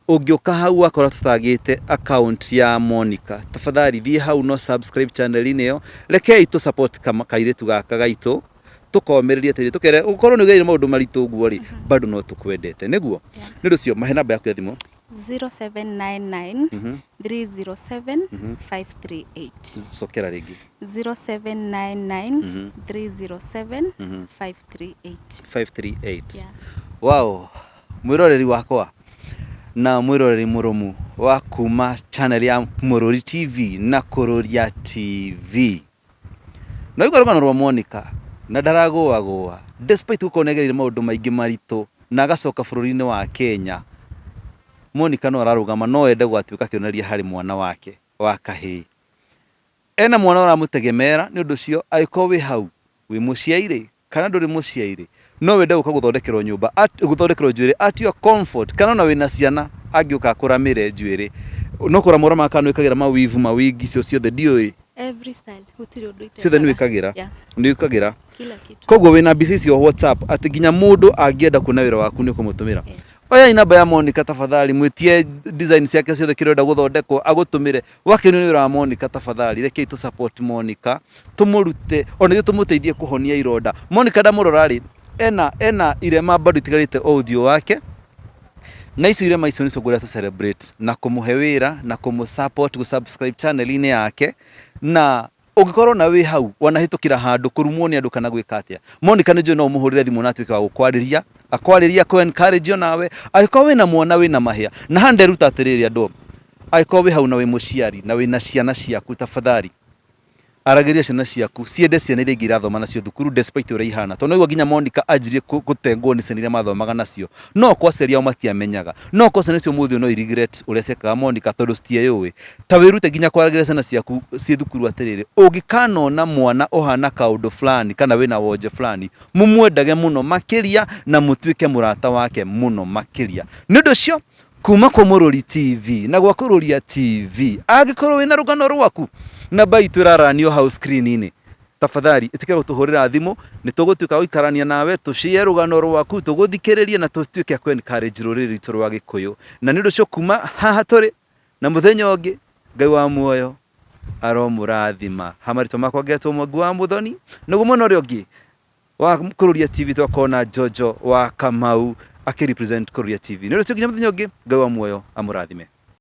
Ũngĩũka hau wakora tũtagĩte account ya Monica, tafadhali thiĩ hau no subscribe channel inĩ ĩyo, rekei tũ support kairĩtu gaka gaitũ tũkomĩrĩrie tĩri tũkere ũkorwo nĩ ũgereire maũndũ maritũ ũguo rĩ bado no tũkwendete nĩguo nĩ ũndũ ũcio mahe namba yaku ya thimũ 0799 307 538 cokera rĩngĩ 0799 307 538 538 Yeah. wow Mwĩroreri wakwa na mwĩroreri mũrũmu wa kuma channel ya Mũrũri TV na Kũrũria TV. No igwa rũgano rwa Monica na ndaragũagũa despite gũkorwo nĩagereire maũndũ maingĩ maritũ na agacoka bũrũri-inĩ wa Kenya. Monica no ararũgama no ende gũgatuĩka kĩonereria harĩ mwana wake wa kahĩĩ. Ena mwana ũramũtegemeera nĩ ũndũ ũcio angĩkorwo wĩ hau wĩ mũciari kana ndũrĩ mũciairĩ no wende gũka gũthondekerwo nyũmba at- gũthondekerwo njuĩrĩ at your comfort kana ona wĩna ciana angĩũka akũramĩre njuĩrĩ no kũramũra ma kana wĩkagĩra mawivu mawingi icio ciothe ndiũĩ Every style, gũtirĩ ũndũ itekaga. ciothe nĩ wĩkagĩra Yeah, nĩ wĩkagĩra kila kitu. koguo wĩna mbica icio whatsapp atĩ nginya mũndũ angĩenda kuona wĩra waku nĩ ũkũmũtũmĩra Yes. oyai namba ya monica tafadhali mwĩtie design ciake ciothe kĩrĩa ũrenda gũthondekwo agũtũmĩre Wakenu nĩ wĩra wa Monica tabathari rekei tũ support Monica tũmũrute ona ithuĩ tũmũteithie kũhonia ironda Monica ndamũrora rĩ ena ena irema bado itigarĩte o ũthiũ wake na icio irema icio nĩcio ngwenda tũ celebrate na kũmũhe wĩra na kũmũ support gũ subscribe channel inĩ yake na Ũngĩkorwo na wĩ hau wanahĩtũkĩra handũ, kũrumwo nĩ andũ kana gwĩka atĩa, Monica nĩ njũĩ no ũmũhũrĩre thimũ na atuĩke wa gũkwarĩria, akwarĩrie, akũ encourage o nawe. Angĩkorwo wĩna mwana wĩna mahĩa, na haha nĩ nderuta atĩrĩrĩ andũ o, angĩkorwo wĩ hau na wĩ mũciari na wĩna ciana ciaku, tafadhali aragĩria ciana ciaku ciende ciana iria ingĩ irathoma nacio thukuru despite ũrĩa ihana. Tondũ nĩ waigua nginya Monica anjirie kũ- gũtengwo nĩ ciana iria mathomaga nacio. No okorwo aciari ao matiamenyaga, no okorwo ciana icio ũmũthĩ ũyũ no i regret ũrĩa ciekaga Monica tondũ citieyũĩ. Ta wĩrute nginya kwaragĩria ciana ciaku ciĩ thukuru atĩrĩrĩ, ũngĩkanona mwana ũhana kaũndũ fulani kana wĩna wonje fulani, mũmwendage mũno makĩria na mũtuĩke mũrata wake mũno makĩria. Nĩ ũndũ ũcio, kuma kwa Mũrũri TV na gwa Kũrũria TV, angĩkorwo wĩna rũgano rwaku, namba itũ ĩraranio hau screen-inĩ, tafadhali ĩtĩkĩra gũtũhũrĩra thimũ, nĩ tũgũtuĩka a gũikarania nawe, tũ share rũgano rwaku, tũgũthikĩrĩrie na tũtuĩke a kũ encourage rũrĩrĩ rwitũ rwa Gĩkũyũ. Na nĩ ũndũ ũcio kuma haha tũrĩ, Na mũthenya ũngĩ Ngai wa muoyo aromũrathima ha marĩtwa makwa ngetwo mwangi wa mũthoni naguo mwena ũrĩa ũngĩ wa kũrũria tv twakorwo na jojo wa kamau akĩrepresent kũrũria tv nĩ ũrĩcio nginya mũthenya ũngĩ Ngai wa muoyo amũrathime